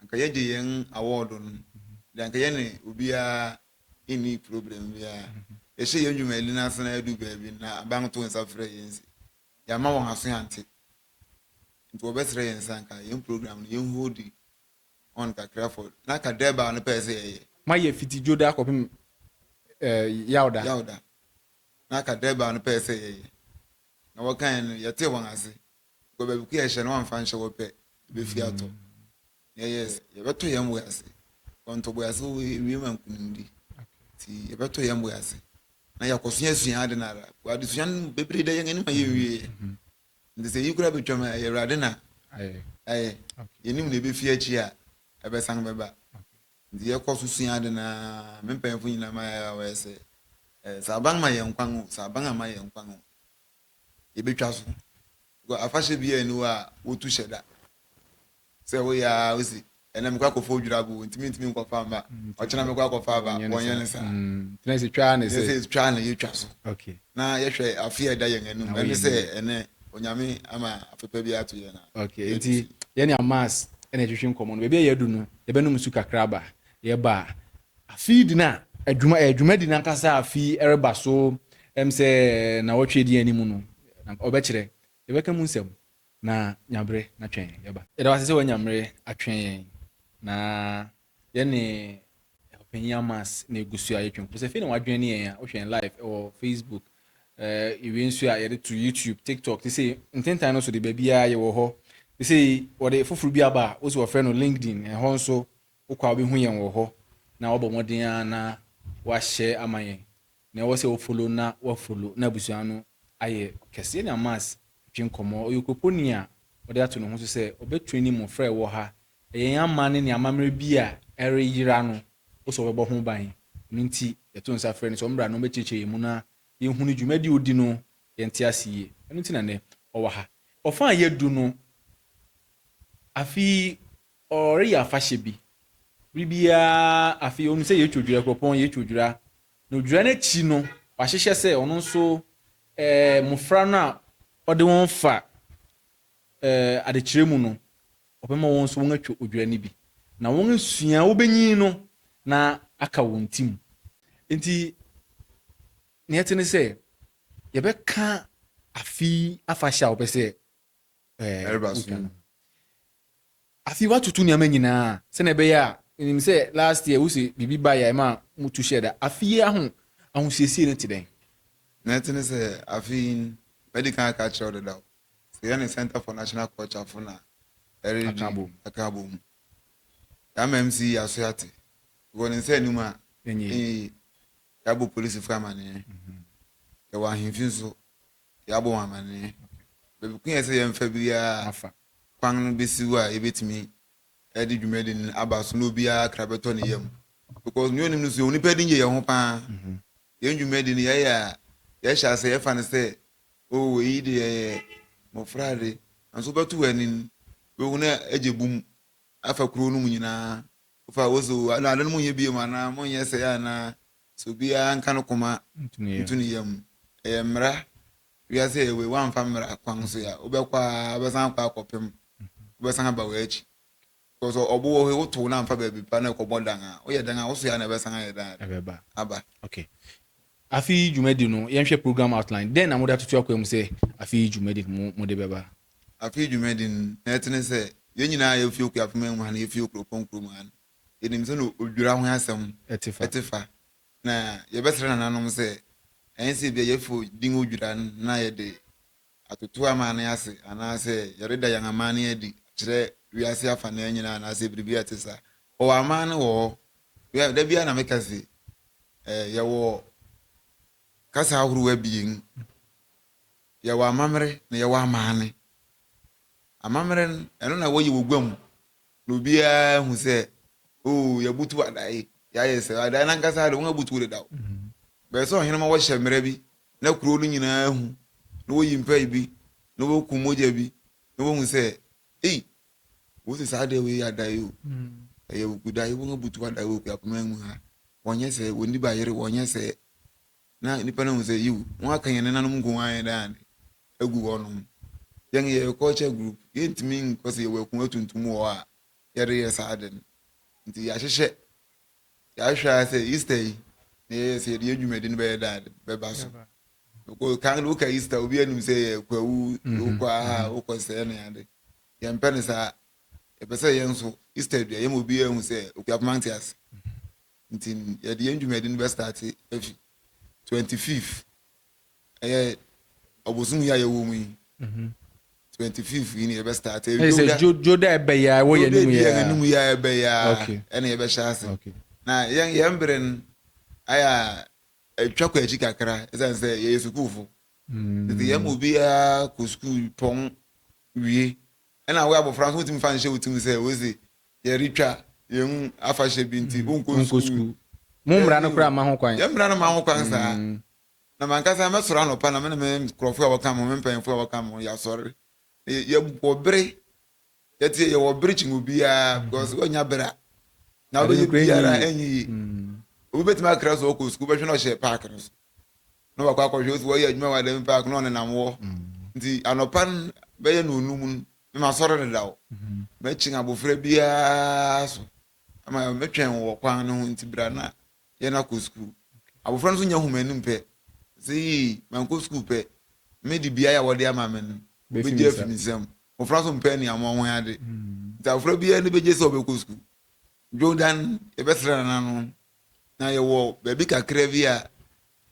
Anka yɛgye yɛn awɔɔdo no de anka yɛne obiara nni problem biara. Yɛhyɛ yɛn dwumadi no ase na yɛadu baabi no na aban to nsa frɛ yɛn se yɛamma wɔn aso ante nti wɔbɛsrɛ yɛn sɛ anka yɛn program no yɛn holdi on kakra for na anka Durbar no pɛɛ sɛ yɛyɛ. Moayɛ fiti Dwoda akɔpem eh, Yawda. Yawda. Na anka Durbar no pɛɛ sɛ yɛyɛ na wɔkaeɛ no yɛtee wɔn ase Because baabi ko yɛhyɛ no wamfa nhyɛ hɔ pɛ ɛbɛfi atɔ na ɛyɛ yɛbɛtɔ yɛn bo ase kɔntɔ bo ase ɛwie ma nkunimdi nti yɛbɛtɔ yɛn bo ase na yɛakɔ so yɛasua ade no ara adesua no bebree da yɛn anim a yɛnwieɛ nti sɛ yi koraa bɛtwam a ɛyɛ awurade na ayɛ yɛnim na ɛbɛfi akyi a ɛbɛsan bɛba nti yɛkɔ so sua ade no ara me mpanyimfo nyinaa ma yɛ a wɔyɛ sɛ sɛ aban ma yɛn kwan o sɛ aban ama yɛn kwan o yɛbɛtwa so. Because afahyɛ biara nni hɔ a wotu hyɛ da. Sɛ woyɛ a wosi ɛnna mekɔ akɔfa odwirabo ntumi ntumi nkɔfa mma ɔkyena mekɔ akɔfa aba wɔnyɛ ne saa tena sɛ twaa ne sɛ twaa ne yɛtwa so na yɛhwɛ afe a ɛda yɛn anim ɛne sɛ ɛnɛ onyame ama afepa bi ato yɛn nti yɛne amas ɛna ɛtwetwe nkɔmmɔ no baabi a yɛadu no yɛbɛnom su kakra ba yɛba a Afei de na adwuma ɛyɛ dwumadi no ankasa a afi reba so ɛm sɛ nnawɔtwe a ɛdi yɛn anim no na ɔbɛkyerɛ. Yɛbɛka mu nsɛm na nya bere na twɛn yɛn. Yɛba. Yɛda wo ase sɛ woanya mmere atwɛn yɛn na yɛne Ɔpanyin Amas ne abusua yɛtwɛn kɔpɛ sɛ afei na w'adwene ne yɛn a wohwɛ yɛn live ɛwɔ Facebook yɛwie nso a yɛde to YouTube, TikTok te sei ntentan no so de baabiara yɛwɔ hɔ te sei wɔde foforo bi aba a wose wɔfrɛ no LinkedIn ɛhɔ nso Wokɔ a wobɛhu yɛn wɔ hɔ na woabɔ mmɔden ara na woahyɛ ama yɛn. Nea ɛwɔ sɛ wo follow na wo follow na abusua no ayɛ kɛse. Yɛne Amas twe nkɔmmɔ. Ɔyɛ okuropɔni a ɔde ato ne ho so sɛ ɔbɛ traini mmofra a ɛwɔ ha. Ɛyɛ yɛn aman no nea amammerɛ bi a ɛreyera no wo sɛ ɔbɛbɔ ho ban. Ɛno nti yɛto nsa frɛ no sɛ ɔmmra na ɔmmɛkyerɛkyerɛ yɛn mu na yɛnhunu dwumadi a ɔdi no yɛnte ase yie. Ɛno nti na nnɛ ɔwɔ ha. Ɔfã a yɛadu no afe yi Ɔreyɛ afahyɛ bi. Bere biara, afei onim sɛ yɛtwa odwira, kuropɔn, yɛtwa odwira. Na odwira no akyi no, wahyehyɛ sɛ ɔno nso eh, mmofra no a ɔde wɔn fa eh, adekyerɛ mu no, ɔbɛma wɔn nso wɔatwa odwira no bi. Na wɔn asua wobenyin no na aka wɔn ti mu. Enti, nea ɛte ne sɛ, yɛbɛka afe yi afahyɛ a wopɛ sɛ Ɛreba so no. Afei watoto nneɛma nyinaa sɛnea ɛbɛyɛ a nim sɛ last year wo sɛ biribi ba yɛ ma mo tu hyɛ da afei yi aho ahosiesie no te dɛn. na ɛte ne sɛ afei mɛdi kan aka akyerɛ wo dedaw sɛ yɛ ne center for national culture fo na ɛredi aka abɔ mu yɛama mc yi aso ate wɔ ne nsa anim a ɛnyɛ yi yɛabɔ polisifo amanneɛ mhm. yɛwɔ ahemfi nso Yɛabɔ ho amanneɛ. Baabi ko yɛ sɛ yɛmfa biara kwan no bɛsiw a yɛbɛtumi de dwumadi no aba so na obiara kra bɛtɔ ne yam. Because nea onim no so, yɛwɔ nnipa ani gye yɛn ho paa. Yɛn dwumadi no yɛyɛ a, yɛhyɛ ase yɛfa no sɛ, oh wei yi deɛ yɛ mmɔfra ade. Nanso wobɛto w'ani no, wobɛhu na agye bum afa kurow no mu nyinaa. Wofa wo se o, na ade no monyɛ bio anaa monyɛ sɛɛ anaa Sɛ obiara nka no koma nto ne yam. Ɛyɛ mmara wiase a yɛwɔ yi, woamfa mmara kwan so a, wobɛkɔ a wobɛsan akɔ akɔpem, wobɛsan aba w'akyi. Because ɔbo wɔ hɔ yi, wotow na amfa baabi pa na ɛkɔbɔ dan a, woyɛ dan a, wo so yɛ a na ɛbɛsan ayɛ dan aba. Okay. Afe yi dwumadi no, yɛnhwɛ program outline. Dɛn na mode atoto akwan mu sɛ afe yi dwumadi no mo mode bɛba? Afe yi dwumadi no, na ɛte ne sɛ, yɛn nyinaa a yɛwɔ Fiokua Afemma mu ha no, yɛfi Okurokɔ nkurom ha no, Yɛnim sɛnea odwira ho asɛm te fa, na yɛbɛsrɛ nananom sɛ ɛnyɛ sɛ ebia yɛafi din odwira na yɛde atoto amanne ase anaasɛ yɛreda yɛn amanne adi akyerɛ wiase afanan nyinaa anaasɛ biribi a ɛte saa. Wɔwɔ amanne wɔ hɔ. Da biara na meka se yɛwɔ kasa ahorow abien. Yɛwɔ amammerɛ na yɛwɔ amanne. Amammerɛ no, ɛno na wɔyɛ wɔ gua mu. Na obiara ahu sɛ, Oo, yɛabutuw adae, yɛayɛ sɛ. Adae no ankasa ara de, wɔabutuw dedaw. Ɛbɛyɛ sɛ ɔhene ma wɔhyɛ mmara bi na kurow no nyinaa hu, na woyi mpae bi, na wokum mogya bi, na wohu sɛ, Ei, wose saa adae wei yɛ adae o, ɛyɛ awugudae, wɔabutuw adae wɔ akuapem aman mu ha, wɔnyɛ sɛɛ, wɔnni bayere, wɔnyɛ sɛɛ. Na nnipa no ahu sɛ, yiw, wɔaka yɛn nenanom nko ara a yɛda ade agu hɔnom. Yɛn yɛyɛ culture group, yentumi nkɔ sɛ yɛwɔ akongua tuntum wɔ hɔ a yɛde yɛ saa ade no. Enti yɛahyehyɛ, yɛahwɛ ara sɛ Easter yi na yɛyɛ sɛ yɛde yɛn dwumadi no bɛyɛ dɛ ade bɛba so. Because kan no woka Easter a, obiara nim sɛ ɛyɛ kwawu, wokɔ aha, wokɔ sɛɛ ne ade. Yɛmpɛ no saa. Yɛpɛ sɛ yɛn nso, Easter du a, yɛma obiara hu sɛ Okuapoma nte ase. Nti yɛde yɛn dwumadi no bɛ starte afi twenty fifth ɛyɛ ɔbosom yi a yɛwɔ mu yi mhm. twenty fifth yi na yɛbɛ starte. ɛyɛ sɛ joda ɛbɛ yɛ a ɛwɔ yɛn anim yɛ a joda yɛn anim yɛ a ɛbɛ yɛ a ɛna yɛbɛ hyɛ ase na yɛn yɛn bere no ayɛ a atwa kɔ akyi kakra ɛsan sɛ yɛyɛ sukuufo mm. nti yɛn mu obiara kɔ sukuu pɔn wie Ɛna wo abɔfra nso wotumi fa nhyɛ wo tirim sɛ wose yɛretwa yɛn afahyɛ bi nti wonkɔ sukuu. Mo mmara no koraa mma ho kwan. Yɛn mmara no mma ho kwan saa. Na m'ankasa mɛsɔre anɔpa na me ne me nkurɔfo a wɔka me ho, me mpanyimfo a wɔka me ho, yɛasɔre. Yɛwɔ bere. Yɛte yɛwɔ bere kyɛn obiara because woanya bere a na wobɛyɛ biribiara ɛnyɛ yie. Obi bɛtumi akra sɛ ɔkɔ sukuu, wobɛhwɛ na ɔhyɛ paake no so. na wakɔ akɔhwɛ osi wɔyɛ adwuma wɔ adami park na ɔnenam hɔ nti anɔpa no bɛyɛ no onum no na masɔre dedaw mhm. mɛkyen abofra biara so ama mɛtwɛn wɔ kwan no ho nti bra na yɛn akɔ sukuu abofra no nso nya homa anim pɛ sɛ yii mankɔ sukuu pɛ me de biara a wɔde ama me no bɛgye afi me nsam mmɔfra nso mpɛ ne amoa ho ade mhm. nti abofra biara ne bɛgye sɛ ɔbɛkɔ sukuu jordan yɛbɛsrɛ nana no na yɛwɔ baabi kakra bi a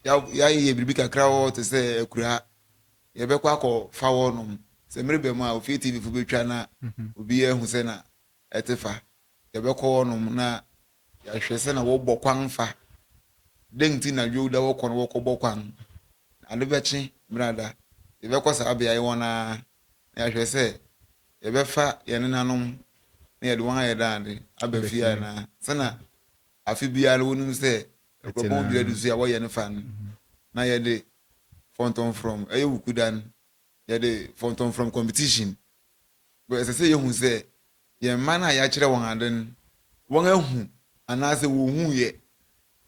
yɛayɛ biribi kakra wɔ hɔ te sɛ akuraa yɛbɛkɔ akɔfa hɔ nom sɛ merebɛ mu a ofie tv fo bɛtwa na mhm. obiara ahu sɛ na ɛte fa yɛbɛkɔ hɔ nom na yɛahwɛ sɛ na wɔbɔ kwan fa dɛn nti na dwowda wɔkɔ no wɔkɔbɔ kwan ade bɛkye mmerada yɛbɛkɔ saa beaeɛ hɔ na na yɛahwɛ sɛ yɛbɛfa yɛn nenanom na yɛde wɔn ayɛ daade aba fie anaa sɛna afe biara wonim sɛ ɛkorɔpɔn dua du so a wɔyɛ no fa no na yɛde fɔntɔmfrɔm ɛyɛ wukuda no yɛde fɔntɔmfrɔm competition bɛ ɛsɛ sɛ yɛhu sɛ yɛn mma no a yɛakyerɛ wɔn ade no wɔn ahu anaasɛ wɔhu yɛ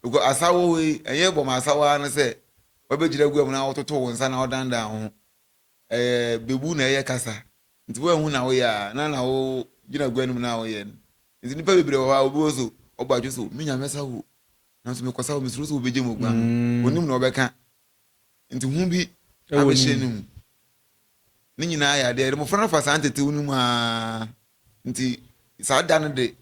because asawo yi ɛyɛ bɔ ma asawo ara no sɛ wɔbɛgyina gua mu na wɔtoto wɔn nsa na wɔdandan ho ɛyɛ bebu na ɛyɛ kasa nti wɔahu na woyɛ a na na wogyina gua no mu na woyɛ no Enti nnipa bebree wɔ hɔ a, obi wɔ hɔ so ɔbɔ adwene sɛ, Me Nyame sa wo, nanso mekɔsa wo, mesuro sɛ wobegye me aguan no. Onnim nea ɔbɛka, enti hu bi abɛhyɛ ne mu. Ne nyinaa yɛ ade a ɛde mmofra no fa saa ntetew no mu ara. Enti saa da no de,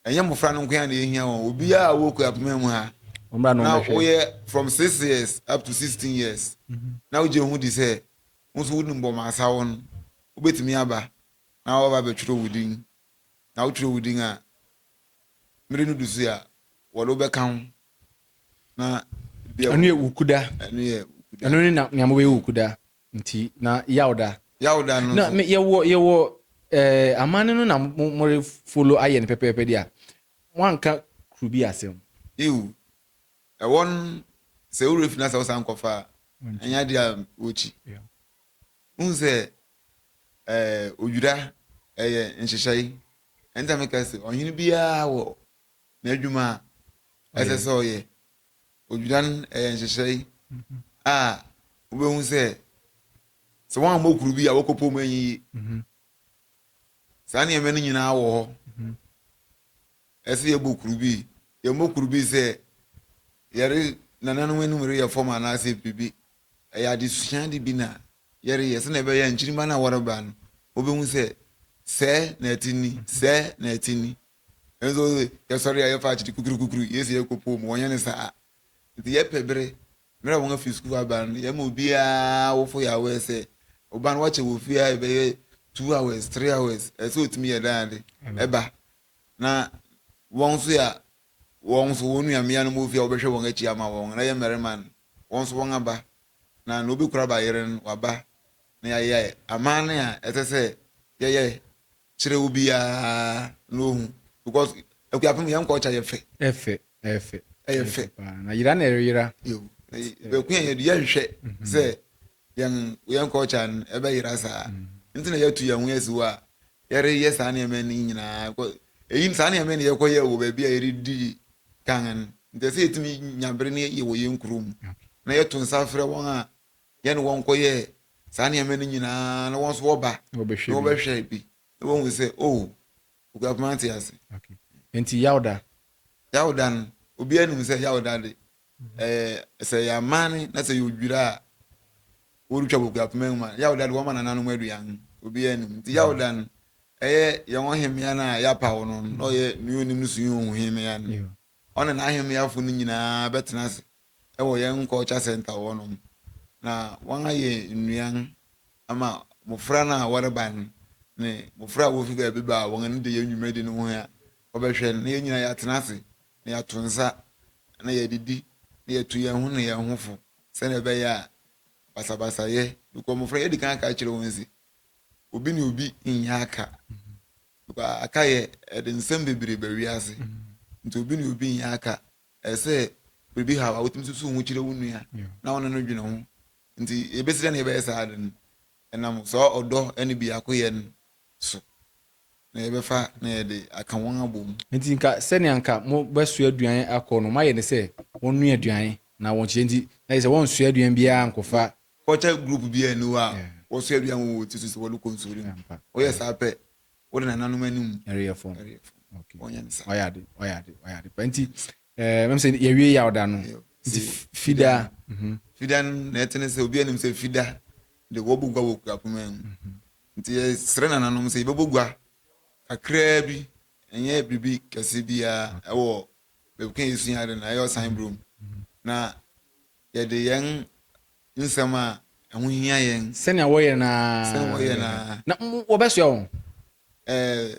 ɛnyɛ mmofra no nko ara na ehia wɔn, obiara a ɔwɔ Kuapem mu ha na woyɛ from six years up to sixteen years mhm. na wogye ho di sɛ wo nso wonim bɔ ma asa wo no, wobetumi aba na wɔaba abɛtwerɛ wo din. na wokyerɛw wo din a, mmere no du so yi a, wɔde wo bɛka ho na bia Ɛno yɛ wukuda. Ɛno yɛ wukuda. Ɛno ne na nea mobɛyɛ wukuda nti na yawda. Yawda no nso. Na yɛwɔ yɛwɔ ɛɛ amanne no na more follow ayɛ no pɛpɛɛpɛ de a, wanka kuru bi asɛm. Yiw, ɛwɔ no sɛ wo werɛ fi na sɛ wosan kɔfa a, ɛnyɛ ade a wokyi. Wohu sɛ ɛɛ odwira ɛyɛ nhyehyɛe. Ɛno nti na meka sɛ ɔhene biara wɔ n'adwuma a ɛsɛ sɛ ɔyɛ. Odwira no ɛyɛ nhyehyɛe a wobɛhu sɛ sɛ wɔammɔ kuru bi a wɔkɔpɔ mu anyiyi. Saa nneɛma no nyinaa wɔ hɔ. ɛsɛ yɛbɔ kuru bi, yɛmmɔ kuru bi sɛ yɛre nananom anim reyɛ fam anaasɛ biribi. Ɛyɛ adesua de bi na yɛreyɛ sɛnea ɛbɛyɛ a nkyirimma no a wɔreba no, wɔbɛhu sɛ sɛɛ na ɛte ni, sɛɛ na ɛte ni. Nanso yɛsɔre a yɛfa akyiri kukurukukuru, yei sɛ yɛkɔpoo mu, wɔnyɛ no saa. Nti yɛpɛ bere, mmerɛ a wɔafi sukuu aba no, yɛma obiara awofo yɛ aware sɛ wo ba no woakyɛ wɔ fie ha, ɛbɛyɛ two hours, three hours, ɛsɛ sɛ ɔtumi yɛ dan ade, ɛba na wɔn nso yɛ wɔn nso wɔn nua mmea no mu ofi a wɔbɛhwɛ wɔn akyi ama wɔn, na yɛ mmarima no, wɔn nso wɔn aba, na nea obekura ba yere no, waba, na yɛayɛ amanne a ɛsɛ sɛ yɛyɛ kyerɛ obiara na ohu, because Akuapem yɛn culture yɛ fɛ. Ɛyɛ fɛ, ɛyɛ fɛ. Ɛyɛ fɛ paa, na yera na ɛreyera. Yɛwɔ, na yɛ, bɛko yɛn yɛde yɛnhwɛ sɛ yɛn yɛn culture no ɛbɛyera saa nti na yɛatu yɛn ho asi hɔ a yɛreyɛ saa nneɛma no nyinaa ɛyi saa nneɛma no yɛkɔyɛ wɔ baabi a yɛredi kan no nti sɛ yɛtumi nya bere no yɛ wɔ yɛn kurom na yɛto nsa frɛ wɔn a yɛne wɔn kɔyɛ saa nneɛma no nyinaa na wɔn nso wɔba na wɔbɛhwɛ bi na wɔhu sɛ o oh, okuapoma te ase nti yawda yawda no obiara nim sɛ yawda de Ɛɛ, sɛ ɛyɛ amanne na sɛ ɛyɛ odwira a wɔretwa wɔ Akuapem mu a, Yawda de wɔma nananom aduan. Obiara anim. Nti Yawda no, ɛyɛ yɛn ɔhemmea no a yɛapaw no no, na ɔyɛ Nea Onim no so yɛn ohu hemmea no. Ɔne n'ahemmeafo no nyinaa bɛtena ase wɔ yɛn culture center hɔnom, na wɔayɛ nnuan ama mmofra no a wɔreba no ne mmofra a wofi baabi ba a wɔn ani da yɛn dwumadi no ho a wɔbɛhwɛ no, na yɛn nyinaa yɛatena ase na yɛato nsa, na yɛadidi, na yɛatu yɛn ho ne yɛn ho fo, sɛnea ɛbɛyɛ a basabasayɛ, because mmofra yɛadi kan aka akyerɛ wɔn se, obi ne obi nyɛ aka, because akayɛ ɛde nsɛm bebree ba wiase, nti obi ne obi nyɛ aka, ɛsɛ sɛ biribi haw a wotumi susuw ho kyerɛ wo nua na wo ne no dwene ho, nti yebesi dɛn na yɛbɛyɛ saa ade no? Ɛnam saa ɔdɔ ne biakoyɛ no so na yɛbɛfa na yɛde aka wɔn abom. Enti nka sɛnea anka mobɛsoa aduan akɔ no, moayɛ no sɛ wɔnnoa aduan na wɔnkyɛ nti, na kyerɛ sɛ wɔnsoa aduan biara nkɔfa. Culture group biara nni hɔ a wɔsoa aduan wɔ wɔn ti so sɛ wɔde kɔ nsɔre mu. Wɔyɛ saa pɛ, wode nananom anim. Ɛreyɛ fam. Wɔnyɛ no saa. Wayɛ ade, wayɛ ade, wayɛ ade pa. Enti Eh, mɛm sɛ yɛwie yaw da no. Nti fida. Mhm. Fida no na ɛte ne sɛ obi anim sɛ fida de wɔbɔ gua wɔ kura kumaa mu. Mhm. Nti yɛsrɛ nananom sɛ yɛbɛbɔ gua kakraa bi, ɛnyɛ biribi kɛse biara mhm. ɛwɔ baabi ka yɛsua ade no ɛyɛ ɔsan burom mhm. na yɛde yɛn nsɛm a ɛho hia yɛn sɛnea wɔyɛ naa sɛnea wɔyɛ naa na wɔbɛsoa wɔn ɛɛ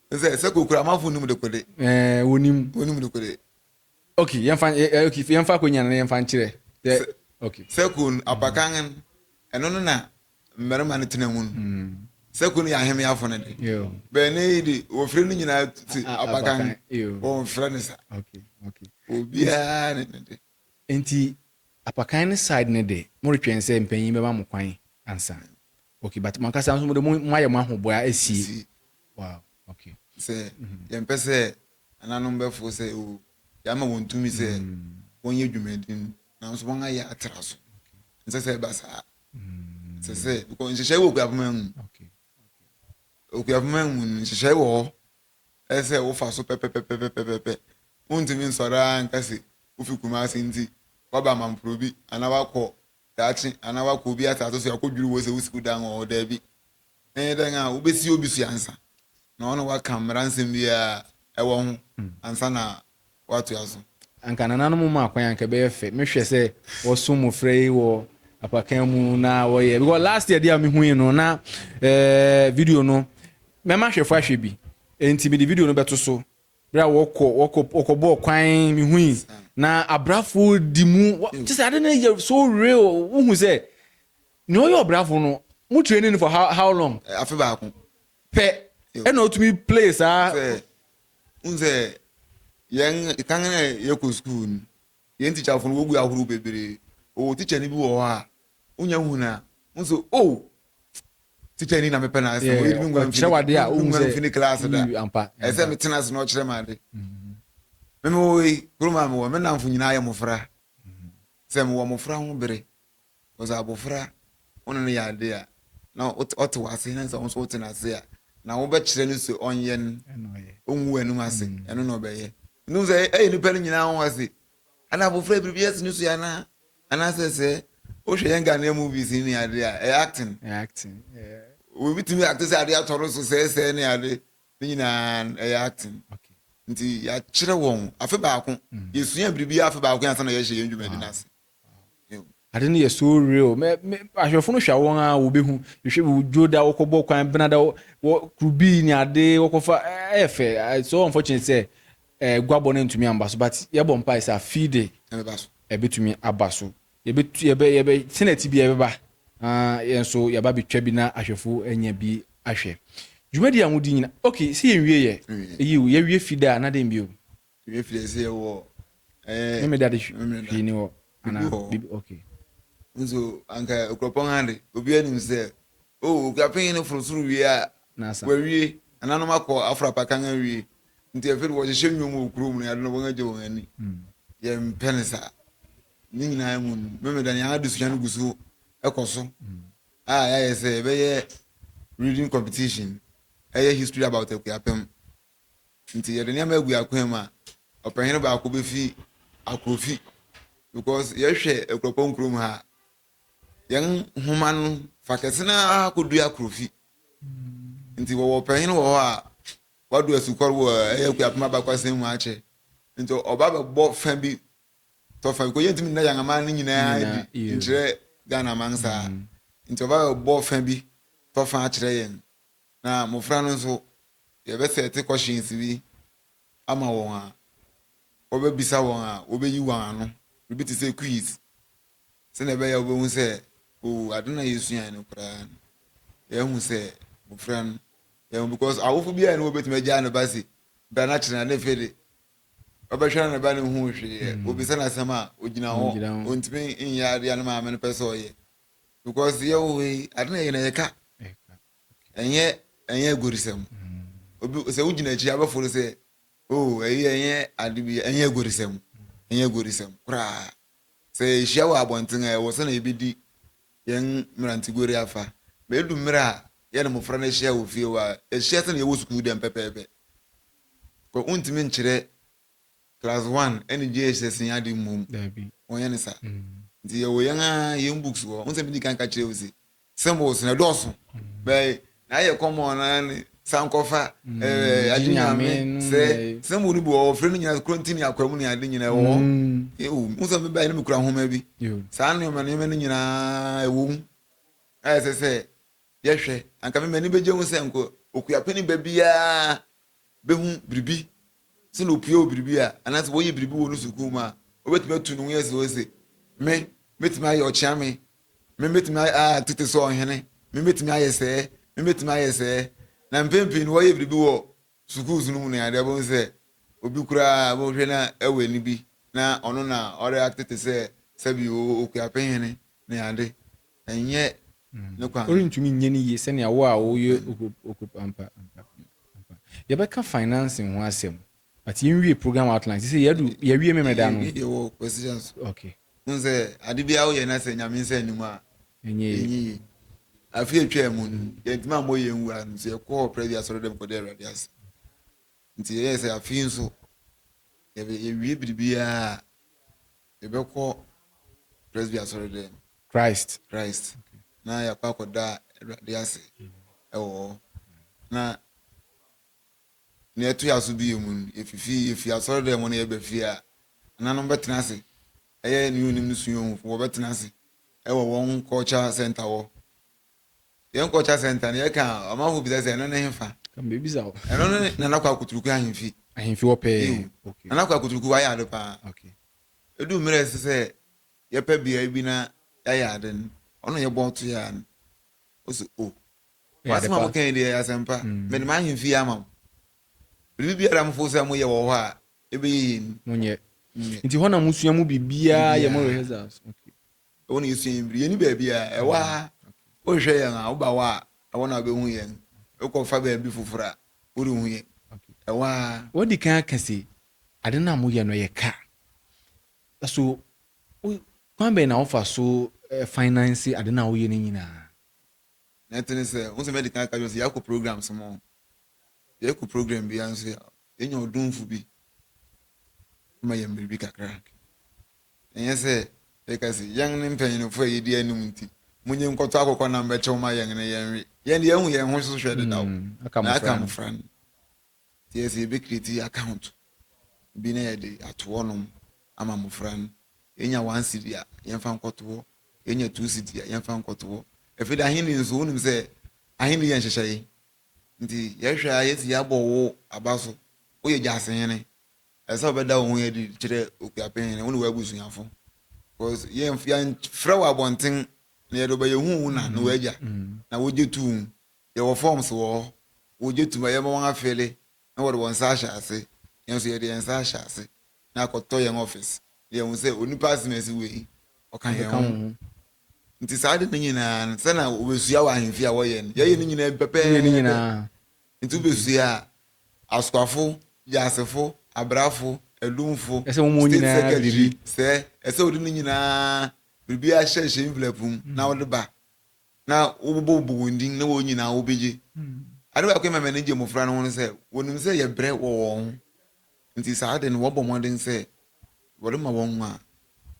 sɛ sɛ kokura amanfo nnim dekode. ɛɛ wɔnim. wɔnim dekode. ok yɛmfa ɛ ok yɛmfa akonnwa no na yɛmfa nkyerɛ. sɛ ok sɛ ko no apakan no ɛno no na mmarima no tena mu no mm. sɛ ko no yɛ ahemmeafo no de bɛn ne yi de wɔfrɛ no nyinaa te apakan wɔmfrɛ no sa obiara ne ne de nti apakan no side no de moretwɛn sɛ mpanyin bɛma mo kwan ansa Okay but mo ankasa nso mo de mo mo ayɛ mo ahoboa esi. Wow okay. Sɛ mhm. yɛn pɛ sɛ ananom bɛfo sɛ o yɛama wɔn tumi sɛ mm. wɔn yɛ dwumadi no nanso wɔn ayɛ atra so nsɛ sɛ ɛba saa mm. sɛ sɛ because nhyehyɛe wɔ okuapoma mu okuapoma mu no nhyehyɛe wɔ hɔ ɛsɛ wofa so pɛpɛpɛpɛpɛpɛ wontumi nsɔre ara nka se wofi kumase nti waba amamporo bi anaa wakɔ daakye anaa woakɔ obi asase so akɔdwiri wo sɛ wo sukuu dan wɔ hɔ. Daabi. Ɛyɛ dɛn a wobɛsi obi so ansa na wo ne woaka mmara nsɛm biara a ɛwɔ ho ansa na woatoa so. Anka nananom maa kwan anka ɛbɛyɛ fɛ mehwɛ sɛ wɔso mmofra yi wɔ apakan mu na wɔyɛ because last year deɛ a mehui no na ɛɛ video no mɛma ahwɛfo ahwɛ bi enti mede video no bɛto so Bere a wɔkɔ, wɔkɔ, wɔkɔbɔɔ kwan, mihui, na abrafo di mu. Kyerɛ sɛ ade no yɛ so real. Wohu sɛ nea ɔyɛ ɔbrafo no, mo training no for how, how long? Eh, afe baako. Pɛ, ɛna otumi play saa. Sɛ, n sɛ, yɛn, kan na yɛkɔ sukuu no, Yɛn tikyafo no wogu ahorow bebree. Wɔwɔ tikyani bi wɔ hɔ a, wunya hu no a, wuhu sɛ, Oh, tikyani yi na mepɛ n'asɛm. Oyi de me nguan mfi ne klaase da. Ɛsɛ sɛ metena ase na ɔkyerɛ me ade. Me mewɔ yi, kurom a mewɔ, me nnamfo nyinaa yɛ mmofra. Sɛ mewɔ mmofra ho bere Cause abofra wo ne no yɛ ade a na ɔte w'ase na sɛ wo nso wote n'ase a na wobɛkyerɛ no sɛ ɔnyɛ no ɔngu w'anim ase mm. ɛno na ɔbɛyɛ ntum sɛ ɛyɛ nipa no nyinaa ho ase ana abofra yi biribi ɛte ne so anaa anaasɛ sɛ wohwɛ yɛn Ghanaian movies ne ade a ɛyɛ acting obi tumi acte sɛ ade atɔ no so sɛɛsɛɛ ne ade ne nyinaa ɛyɛ acting nti yɛakyerɛ wɔn afe baako mm. yɛsua biribi afe baako yɛn ansa na yɛhyɛ yɛn dwumadi no ase Ade no yɛ so real. Me, me, ahwɛfo no hwɛ wɔn a wɔbɛhu. Hwɛ bi wodwo da wɔkɔbɔ kwan bena da wɔ kurubii ne ade wɔkɔfa ɛyɛ fɛ. So unfortunate sɛ eh, guabɔ no ntumi amba so but yɛbɔ mpae sɛ afei de ɛbɛtumi aba so. Yɛbɛtu yɛbɛ yɛbɛ senate bi ɛbɛba na yɛn nso yɛaba bɛtwa bi na ahwɛfo anya bi ahwɛ. Dwumadi a modi nyina okay sɛ yɛnwie yɛ ɛyi o yɛwie fi da a na dɛn bio. Tumi firi ɛsɛ yɛ wɔ ɛɛ. Ne mi da de hwii ni hɔ ana bibi ok. Nso anka okurapɔn ha de obi anim sɛ o oh, okurapɔn yi ne foro soro wie a wawie ananom akɔ afrapa kan awie nti afei de wɔhyehyɛ nnwom wɔ kurom no yɛde no wɔn agye wɔn ani hmm. yɛmpɛ ne saa ne nyinaa mu no memeda nea adesua no gu so ɛkɔ so hmm. a yɛayɛ sɛ ɛbɛyɛ reading competition ɛyɛ history about akuapɛm nti yɛde nneɛma agu yɛn akwan mu a, ɔpanyin baako befi akorofi because yɛhwɛ akuropɔn kurom ha yɛn nhoma no fa kɛse no ara kɔdu akorofi nti wɔwɔ ɔpanyin wɔ hɔ a wado asukɔre wɔ ɛyɛ akuapem abakɔsɛm mu akyɛ nti ɔba bɛbɔ fa bi tɔ fa bi kɔ yɛntumi nna yɛn aman no nyinaa di nkyerɛ ghana man saa mm. nti ɔba bɛbɔ fa bi tɔ fa akyerɛ yɛn Na mmofra no nso, yɛbɛsɛte questions bi ama wɔn a wɔbɛbisa wɔn a wɔbɛyi wɔn ano, biribi te sɛ quiz, sɛnea ɛbɛyɛ a wɔbɛhu sɛ, oh, ade na yɛsuae no koraa no, yɛahu sɛ mmofra no, yɛahu because awofo biara ne wɔbɛtumi agyaa ne ba se, bra na kyerɛ na ne fe de, ɔbɛhwɛ na ne ba no hu hwee, mm. obisa no asɛm a, ogyina hɔ, ontumi nyɛ adeɛ a ne maame no pɛ sɛ ɔyɛ. because yɛ wo yi ade na yɛ na yɛ ka ɛnyɛ ɛnyɛ agorisɛm obi sɛ wogyina akyi abɛfo no sɛ o oh, ɛyi ɛnyɛ ade bi ɛnyɛ agorisɛm ɛnyɛ agorisɛm koraa sɛ ehyia wɔ abɔnten a ɛwɔ sɛ na yɛbɛdi yɛn mmerantegori afa ma edu mmerɛ a yɛne mmɔfra no ahyia wɔ fie hɔ a yɛhyia sɛ na yɛwɔ sukuu dɛm pɛpɛɛpɛ wontumi nkyerɛ class one ɛne JSS nyɛ ade mmom wɔnyɛ ne saa nti yɛwɔ yɛn a yɛn books wɔ hɔ nsɛm bi di kan ka kyerɛ wo se symbols na ɛdɔɔso bɛyɛ na ayɛ kɔmɔ na ne sankɔfa ɛɛ adi nyame sɛ symbol no bi wɔ wɔfrɛ no nyina kronti ne akwamu ne ade nyina ɛwɔ ewu nsɛm bi bɛyɛ ne mekura nhoma bi saa nneɛma nneɛma no nyinaa ɛwɔ mu ayɛ sɛ sɛ yɛhwɛ anka me m'ani bɛgye ho sɛ nko okuapɛni ba biara bɛhu biribi Sɛ na opue wɔ biribi a, anaasɛ wɔyɛ biribi wɔ ne sukuu mu a, obetumi atu ne ho asi hɔ se, Me, metumi ayɛ ɔkyeame. Me, metumi ayɛ a tete sɛ ɔhene. Me, metumi ayɛ sɛɛ. Me, metumi ayɛ sɛɛ. Na mpɛn pii no wɔyɛ biribi wɔ sukuus no mu no a, ɛde bohu sɛ obi koraa a wɔhwɛ no wɔ ani bi na ɔno na ɔreacte te sɛ sɛbi oo, Okuapehene ne ade. Ɛnyɛ ne kwan. Worentumi nyɛ no yie sɛnea wo a woyɛ okup ampa ampa ampa. Yɛbɛka financing ho asɛm but yɛnwie program outline sɛ sɛ yɛadu yɛawie memeredaa no. Yɛwie deɛ wɔ position so. Okay. Wohu sɛ ade biara woyɛ na sɛ Nyame nsa nni mu a ɛnyɛ yie. Afe atwaa mu no yɛntumi ammɔ yɛn nwura no nti yɛkɔɔ Privy Asɔredɔm kɔda Awurade ase. Nti yɛyɛɛ sɛ afe yi nso yɛwie biribiara a. Yɛbɛkɔ Presby Asɔredɛm. Christ. Christ. Na yɛakɔ akɔda Awurade ase wɔ hɔ. Na nea ɛto yɛ aso bio mu no, yɛfifi yɛfi asɔredɛm hɔ na yɛba fie a, nananom bɛtena ase. Ɛyɛ ne onim ne sua ohufo, wɔbɛtena ase wɔ wɔn culture center hɔ. Yɛn kɔ ɔkya sɛnta no yɛka a ɔmanfo bisa sɛ ɛno ne hefa? Ka mebisa wo. Ɛno ne Nana Kwaa Kuturuku ahemfi. Ahemfi hɔ pɛɛ. Yiw. Okay. Nana Kwaa Kuturuku wayɛ ade paa. Okay. Edu mmere a ɛsɛ sɛ yɛpɛ beae bi na yɛayɛ ade no, ɔno na yɛbɔ to yɛ ara no. Ose, Oh, mo asɛm a moka yi deɛ ɛyɛ asɛmpa. Mede m'ahemfi yi ama mo. Biribi biara a mofo sɛ moyɛ wɔ hɔ a ɛbɛyɛ yie no, monyɛ. Nti hɔ na mosua mo biribiara yɛ mo rehearsals? Okay. Ɛwɔ na yɛsua yɛn biri. Yɛni baabi a, ɛwɔ mm, ha. Wohwehwɛ yɛn a, woba hɔ a, ɛwɔ na wobɛhu yɛn. Wokɔfa baabi foforɔ a, worenhu yɛn. Ɛwɔ ha. Wadi kan aka se, ade no a moyɛ no, ɛyɛ ka. So wo, kwan bɛn na wofa so eh, finance ade no a woyɛ no nyinaa? Na ɛte ne sɛ, wo sɛ mɛdi kan aka kyerɛ sɛ yɛakɔ programs mo. Yɛkɔ program biara nso a, yɛnya ɔdomfo bi ma yɛn biribi kakra. Ɛnyɛ sɛ yɛka se, Yɛn ne mpanyinfo a yedi anim nti, munye nkɔtɔ akokɔ nam bɛkyɛw ma yɛn na yɛnwe. Yɛn de, yɛahu yɛn ho so hwɛ dedaw, na yɛaka mmofra no. Enti ɛyɛ sɛ yebekreati account bi na yɛde ato hɔnom ama mmofra no. Yenya one cedi a, yɛmfa nkɔto hɔ. Yenya two cedi a, yɛmfa nkɔto hɔ. Afei de, Ahenni nso, wunim sɛ Ahenni yɛ nhyehyɛe. Enti yɛhwɛ a, yɛasi yɛabɔ wo aba so. Woyɛ gyasehene. Ɛsɛ sɛ wobɛda wo ho adi kyerɛ Okuapɛn Hene, wo ne w'abusuafo, because yɛn yɛnfrɛ wɔ abɔnten na yɛde ɔba yɛhu wo na ne w'agya na wogye tom. Yɛwɔ forms wɔ hɔ, wogye tom a yɛma wɔn afele na wɔde wɔn nsa ahyɛ ase. Yɛn nso yɛde yɛn nsa ahyɛ ase na akɔtɔ yɛn office na yɛahu sɛ onipa asem asi wei ɔka yɛn ho. Nti saa ade no nyinaa no sɛnea wobesua wɔ ahemfie a wɔyɛ no, yɛyɛ ne nyinaa bi pɛpɛɛpɛ. Enti wobesua a, askwafo, wiasefo, abrafo, adumfo, Ɛsɛ wɔn state nyinaa secretary, biribi. sɛ ɛsɛ wode ne nyinaa biribi ahyɛ hyɛ envelope mu na wode ba na wobobɔbobɔ wɔn din na wɔn nyinaa wobegye. Ade baako a ɛma m'ani gye mmofra no ho ne sɛ wɔnim sɛ yɛbrɛ wɔ wɔn ho nti saa ade no wɔbɔ mmɔden sɛ wɔde ma wɔn a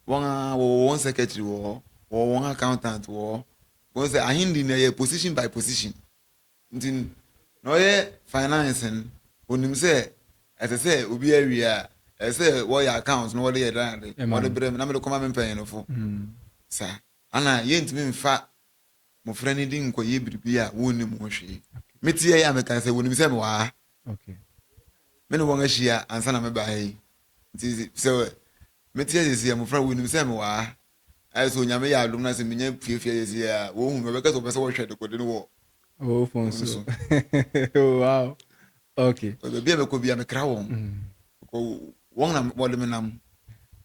wɔn a wɔwɔ wɔn secretary wɔ hɔ, wɔwɔ wɔn accountant wɔ hɔ. Wohu sɛ ahenni no ɛyɛ position by position. Nti no, na ɔyɛ finance no, onim sɛ ɛsɛ sɛ obi awie a, ɛsɛ sɛ wɔyɛ account na wɔde yɛ dan ade, na wɔde brɛ me na mede kɔma me mpanyinfo. Saa ana yɛntumi mfa mmofra no din nkɔyɛ biribi a wonnim ho hwee. Metiei a mekaa sɛ, Wonim sɛ mewɔ ha. Me ne wɔn ahyia ansa na mebaa ha yi. Nti sɛ mete ase sɛ mmofra wonim sɛ mewɔ ha Ayɛ sɛ Onyame yɛ adom na sɛ menya piapia yɛ sei a, wɔhu me, wɔbɛka sɛ wɔpɛ sɛ wɔhwɛ dekode no wɔ Wo phone so. Wow. Okay. Because baabi a mɛkɔ bia mekra wɔn. Because mm. wɔn na wɔde me nam.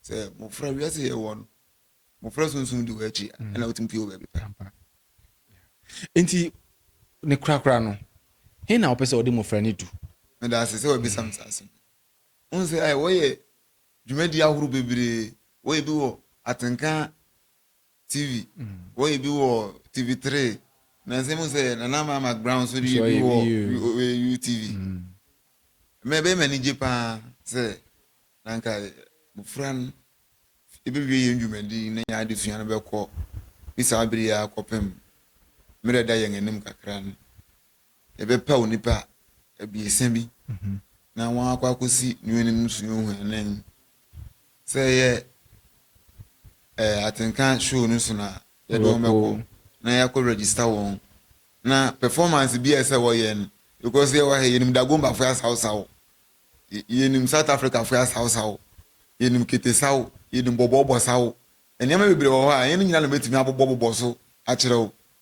Sɛ mmofra wiase yɛ wɔ no, mmofra sunsun di wɔ akyi mm. ɛna wotumi pie wɔ baabi pa. Nti ne korakora no, he na wɔpɛ sɛ wɔde mmofra no du? Meda ase sɛ wɔbisa me saa asɛm. Wohu sɛ ayɛ wɔyɛ Dwumadi ahorow bebree, wɔyɛ bi wɔ Atenka TV, wɔyɛ bi wɔ TV Three, nansa mu sɛ Nana Ama McBrown nso reyɛ bi wɔ UTV. Ɛma ɛbɛyɛ me anigye pa ara sɛ na anka mmofra no bewie yɛn dwumadi yi na yɛn adesua no bɛkɔ fi saa bere yi ara kɔpem mmere a ɛda yɛn anim kakra no. yɛbɛpaw nnipa abiɛsa bi na wɔakɔ akosi ne anim nsu nhwiren. Sɛ ɛyɛ eh, atenka show no so na yɛde wɔn bɛkɔ na yɛakɔ register wɔn. Na performance bi a ɛsɛ wɔyɛ no, because yɛwɔ ha yɛnim Dagombafo asawsaw, yɛnim South Africafo asawsaw, yɛnim ketesaw, yɛnim bɔbɔɔbɔsaw. Nneɛma bebree wɔ hɔ a yɛn nyinaa na bɛtumi abobɔbobɔ so akyerɛ wo.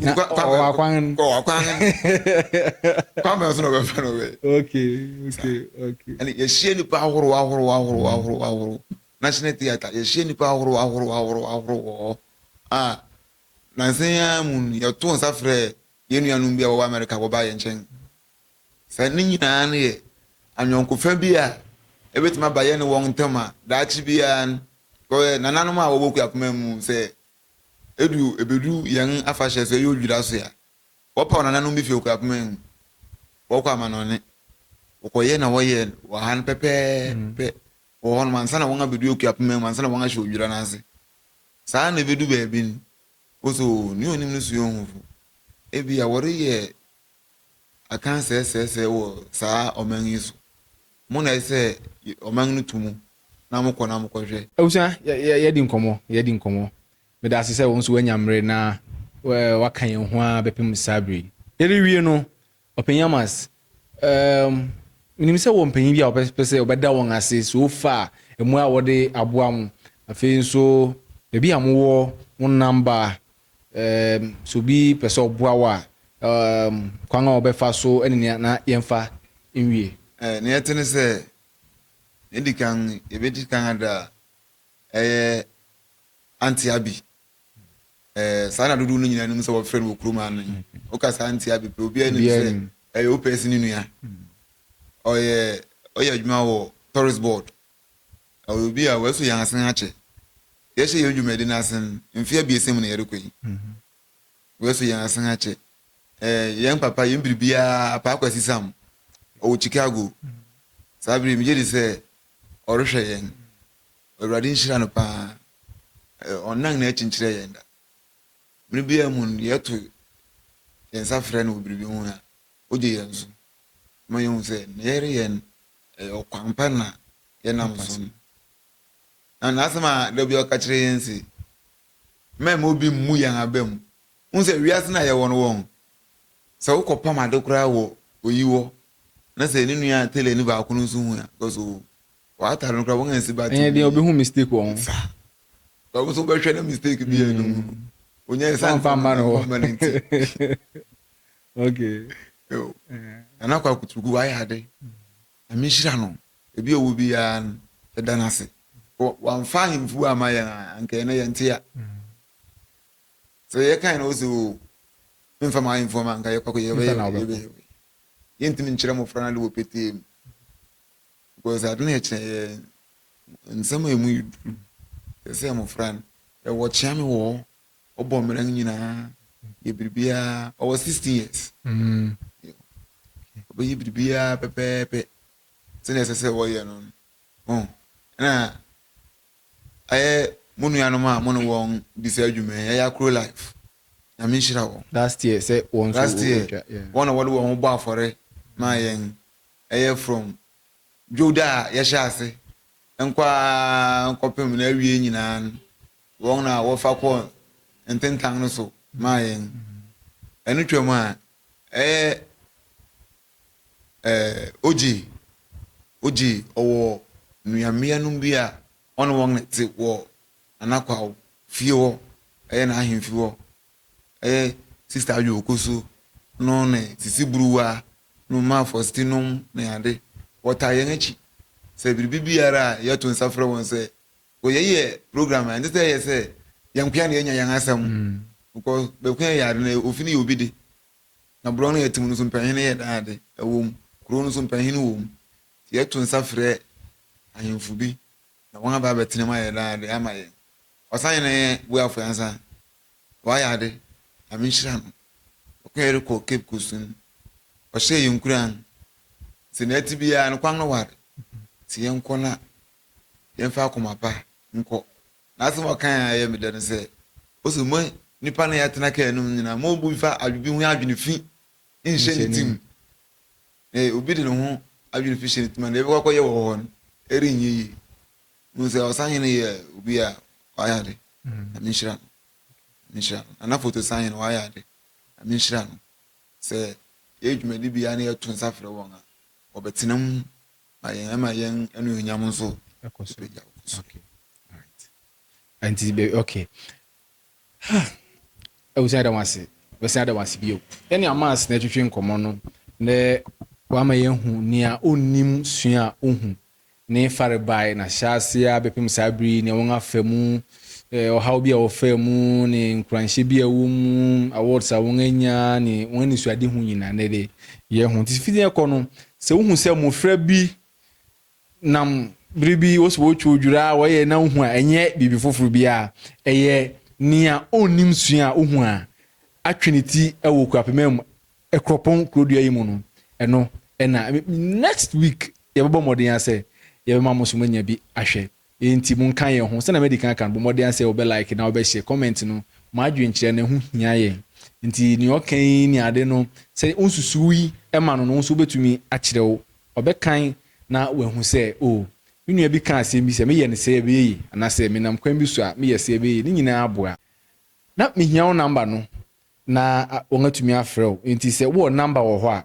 Na ɔwɔ akwan no. Ɔwɔ akwan no. Kwan bɛn so na ɔbɛfa no bɛ. Okay, okay, okay. Ɛna yɛhyia nipa ahorow ahorow ahorow ahorow ahorow. National theatre yɛhyia nipa ahorow ahorow ahorow ahorow wɔ hɔ. A nansan yi ara mu no yɛto nsa frɛ yɛn nuanom bi a wɔwɔ America wɔba yɛn nkyɛn. Sɛ ne nyinaa no yɛ anyɔnkofa bi a ebetumi aba yɛn ne wɔn ntam a daakye biara no nananom a wɔwɔ Kuapoma mu sɛ Edu ebedu yɛn afahyɛ sɛ ɛyɛ odwira ase a, wɔpaw nananom bi fi okuapoma mu, wɔkɔ amanɔnne. Wɔkɔyɛ na wɔyɛ wɔ ha no pɛpɛɛpɛ wɔ hɔnom ansa na wɔn abedu okuapoma mu, ansa na wɔn ahyɛ odwira no ase. Saa ara na ebedu baabi no, woso nea onim no sua ohufo. Ebia wɔreyɛ akansɛesɛesɛe wɔ saa ɔman yi so. Mo na ɛsɛ sɛ ɔman no tu mo na mokɔ na mokɔhwɛ. Abusua, yɛ, yɛadi nkɔmmɔ, yɛadi nkɔmmɔ. Meda ase sɛ wo nso woanya mmere na woaka yɛn ho ara bɛpem saa bere yi. Yɛrewie no, Ɔpanyin Amas, ɛɛm, minim sɛ wowɔ mpanyin bi a wobɛpɛ sɛ wobɛda wɔn ase so fa mmoa a wɔde aboa mo. Afei nso, baabi a mowɔ, wo namba, Um, sɛ obi pɛ sɛ ɔboa wo a, um, kwan a ɔbɛfa so ne nea na yɛmfa nwie. Eh, nea ɛte ne sɛ, nea edi kan, yɛbɛdi kan ada a ɛyɛ Auntie Abby. Eh, saa na dodow no nyinaa nim sɛ wɔfrɛ no wɔ kurom ha no. Woka sɛ Auntie Abby pɛ, obiara nim sɛ ɛyɛ wo pɛsi ne nua. Ɔyɛ, ɔyɛ adwuma wɔ Tourist Board. Ɔyɛ obi a ɔasu hɛn asen akyɛ. Yɛhyɛ hɛn dwumadzi no ase no, mfe abiɛsa mu na yɛrokɔ yi. Ɔasu hɛn asen akyɛ. Eh, hɛn papa, hɛn biribiara, Apaa Kwasi Sam, ɔwɔ Chicago. Saa ber yi, megye dzi sɛ ɔrohwɛ hɛn. Ewuradze nhyira no paa. Eh, ɔnnan n'ekyir nnkyerɛ hɛn da. Ber biara mu no, yɛto hɛn nsa frɛ no wɔ biribi ho a, ogye hɛn so. Ɔma yehu sɛ, ne yɛreyɛ no, ɔyɛ ɔkwan pa na yɛnam so no. Na n'asɛm a da bi ɔka kyerɛ yɛn se, Mɛmma obi mmu yɛn aba mu. Wohu sɛ wiase no a yɛwɔ no wɔn, sɛ wokɔpam ade koraa wɔ oyi hɔ na sɛ ne nua tailor ni baako no nso hu a, because owu, w'atade no koraa wɔansi battery mu. Ɛnyɛ deɛ obehu mistake wɔ ho. Saa. Because wo nso wobɛhwɛ na mistake bi yɛ no mu. Mm. Onyɛ ɛsan Wɔmfa mma no hɔ. mma no nti. Okay. Yo. Eh. Nana kwa kuturuku wayɛ ade. Nyame nhyira no, baabi a ɔwɔ biara no yɛda no ase. Wamfa ahemfo amma yɛn a, anka ɛnɛ yɛnte a. Sɛ yɛkae na ɔsɛ o, memfa m'ahemfo ma anka yɛkɔ yɛbɛyɛ. Yɛntumi nkyerɛ mmɔfra no ade wɔ petee mu. Because ade no yɛkyerɛ yɛ nsɛm a ɛmu yɛ duru. Sɛ sɛ mmɔfra no, yɛwɔ kyeame wɔ hɔ, ɔbɔ mmera no nyinaa yɛ biribiara ɔwɔ sixteen years ɔbɛyɛ mm. biribiara pɛpɛɛpɛ sɛdeɛ ɛsɛ sɛ wɔyɛ no no oh, ɛna ɛyɛ mo nuanom a mo ne wɔn di sɛ adwuma yi ɛyɛ akoro life nyame nhyira wɔn last year sɛ wɔn nso last year wɔn na wɔde wɔn bɔ afɔre maa mm. yɛn ɛyɛ from dwowda a yɛhyɛ ase nkɔ a nkɔpem na awie nyinaa no Wɔn na wɔfa kɔɔ ntentan no so maa yɛn. Ɛno twam a, ɛyɛ eh, ogye, ogye, ɔwɔ nuammeanom bi a ɔne wɔn na ɛte wɔ Nana Kwaw fie hɔ, ɛyɛ n'ahemfi hɔ. Ɛyɛ Sista Adwo Okosu no ne Sisi Buruwa no ma Faustinom ne ade. Wɔtaa yɛn akyi sɛ biribi biara a yɛto nsa frɛ wɔn sɛ Because yɛyɛ program a ɛnsɛ sɛ ɛyɛ sɛ yɛn nkoa na yɛnya yɛn asɛm mm. because bɛko yɛ ade no ofi no yɛ obi de na borɔ no yɛte mu no so mpanyin yɛ dan ade ɛwɔ mu kuro no so mpanyin wɔ mu nti yɛto nsa frɛ ahemfo bi na wɔn aba abɛtena mu ayɛ dan ade ama yɛn ɔsan yɛn na yɛn buafo ansa wɔayɛ ade nyame nhyira no ɔko yɛ rekɔ cape coast no ɔhyɛ yɛn nkuran sɛ na ɛte biara no kwan no ware sɛ yɛnkɔ na yɛmfa akoma pa nkɔ. N'asɛm a ɔkae a ɛyɛ me dɛ no sɛ, ose, Mo nnipa no a yɛatena kaa no mu nyinaa, mommu mfa adwene ho adwene fi nhyɛ ne tirim. Na obi de ne ho adwene fi hyɛ ne tirim a, nea ɛbɛkɔ akɔyɛ wɔ hɔ no, ɛrenyɛ yie. Mo sɛ ɔsahene yɛ obi a wayɛ ade. Nyame nhyira no. Nyame nhyira no. Nana Foto Sahene wayɛ ade. Nyame nhyira no. Sɛ yɛyɛ dwumadibea na yɛto nsa frɛ wɔn a, wɔbɛtena mu na yɛn ɛma yɛn anuonyam nso ɛkɔ so ɛpagya kɔ so. Okay. Alright. Nti bɛ okay. Ha. Ɛwusi ada wase. Wɛsi ada wase bio. Ɛne amas na ɛtwitwi nkɔmɔ no na wama yɛn hu nea onnim sua ohu ne farebae na hyɛ aseɛ abɛpem saa bere yi nea wɔn afa mu ɔhaw bi a wɔfaa mu ne nkuranhyɛ bi a ɛwɔ mu, awards a wɔanya ne wɔn anisoadehu nyinaa nnɛ de yɛ ho. Nti fiti ɛkɔ no, sɛ wohu sɛ mmofra bi nam bere bi wɔsɛ wɔtwa odwira a wɔyɛ na wohu a ɛnyɛ biribi foforo bi a ɛyɛ nea onnim sua a wohu a atwe ne ti wɔ Kuapema mu Ɛkorɔpɔn kurodua yi mu no, ɛno na next week yɛbɛbɔ mmɔden asɛ yɛbɛma mo nso moanya bi ahwɛ. Enti monka yɛn ho. Sɛnea madi kan aka no, bɔ mmɔden ara sɛ wobɛ like na wobɛ share comment no. Mo adwenkyerɛ no, ɛho hia yɛn. Enti nea ɔka yi ne ade no, sɛ wonsusuw yi ma no no, wo nso wobɛtumi akyerɛw. Ɔbɛkan na wahu sɛ, oh, me nua bi kaa asɛm bi, sɛ meyɛ no sɛɛ a ɛbɛyɛ yie, anaasɛ menam kwan bi so a, meyɛ sɛɛ a ɛbɛyɛ yie. Ne nyinaa aboa. Na mehia wo number no na wɔatumi afrɛ wo. Enti sɛ wowɔ number wɔ hɔ a,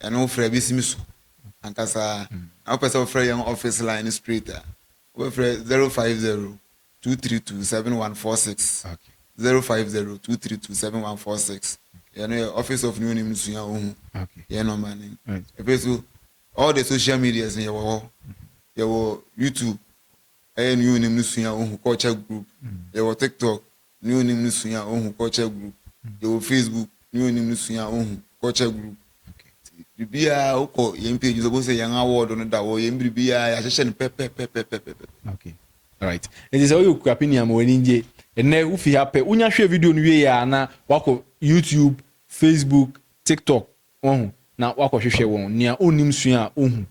Ɛno wo frɛ bɛsi me so ankasa ara. Na wopɛ sɛ wofrɛ yɛn office line no straight a, wobɛfrɛ 050 232 7146. 050 232 7146. Yɛn no yɛ office of ne onim no sua ohu yɛn number no. Ɛfiri so all the social medias no yɛwɔ hɔ. Yɛwɔ YouTube ɛyɛ ne onim no sua ohu culture group. Yɛwɔ TikTok ne onim no sua ohu culture group yɛwɔ facebook ne onim no sua ohu culture group biribiara wokɔ yɛn page so bosɛ yɛn award no da wɔ yɛn biribiara yɛahyehyɛ no pɛpɛpɛpɛpɛpɛ okay right nti sɛ woyɛ okura pini ama w'ani gye ɛnɛ wofi ha pɛ wonya hwɛ video no wie a na wakɔ youtube facebook tiktok wahu na wakɔhwehwɛ wɔn, nea onnim sua a ohu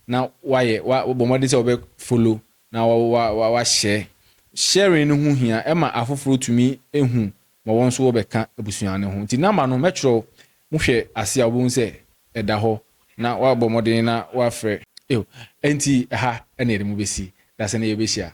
na wayɛ, wa, wabɔ mmɔden sɛ ɔbɛ follow na wa, wa, wa, wahyɛ. Sharing no ho hia, ɛma afoforo tumi hu ma wɔn nso wɔbɛka abusua no ho. Nti number no mɛkyerɛw, mo hwɛ ase a wobɛhu sɛ ɛda hɔ na wabɔ mmɔden na wafrɛ. Ew, ɛnti ɛha na yɛde mo bɛsi, dasɛn na yɛbɛhyia.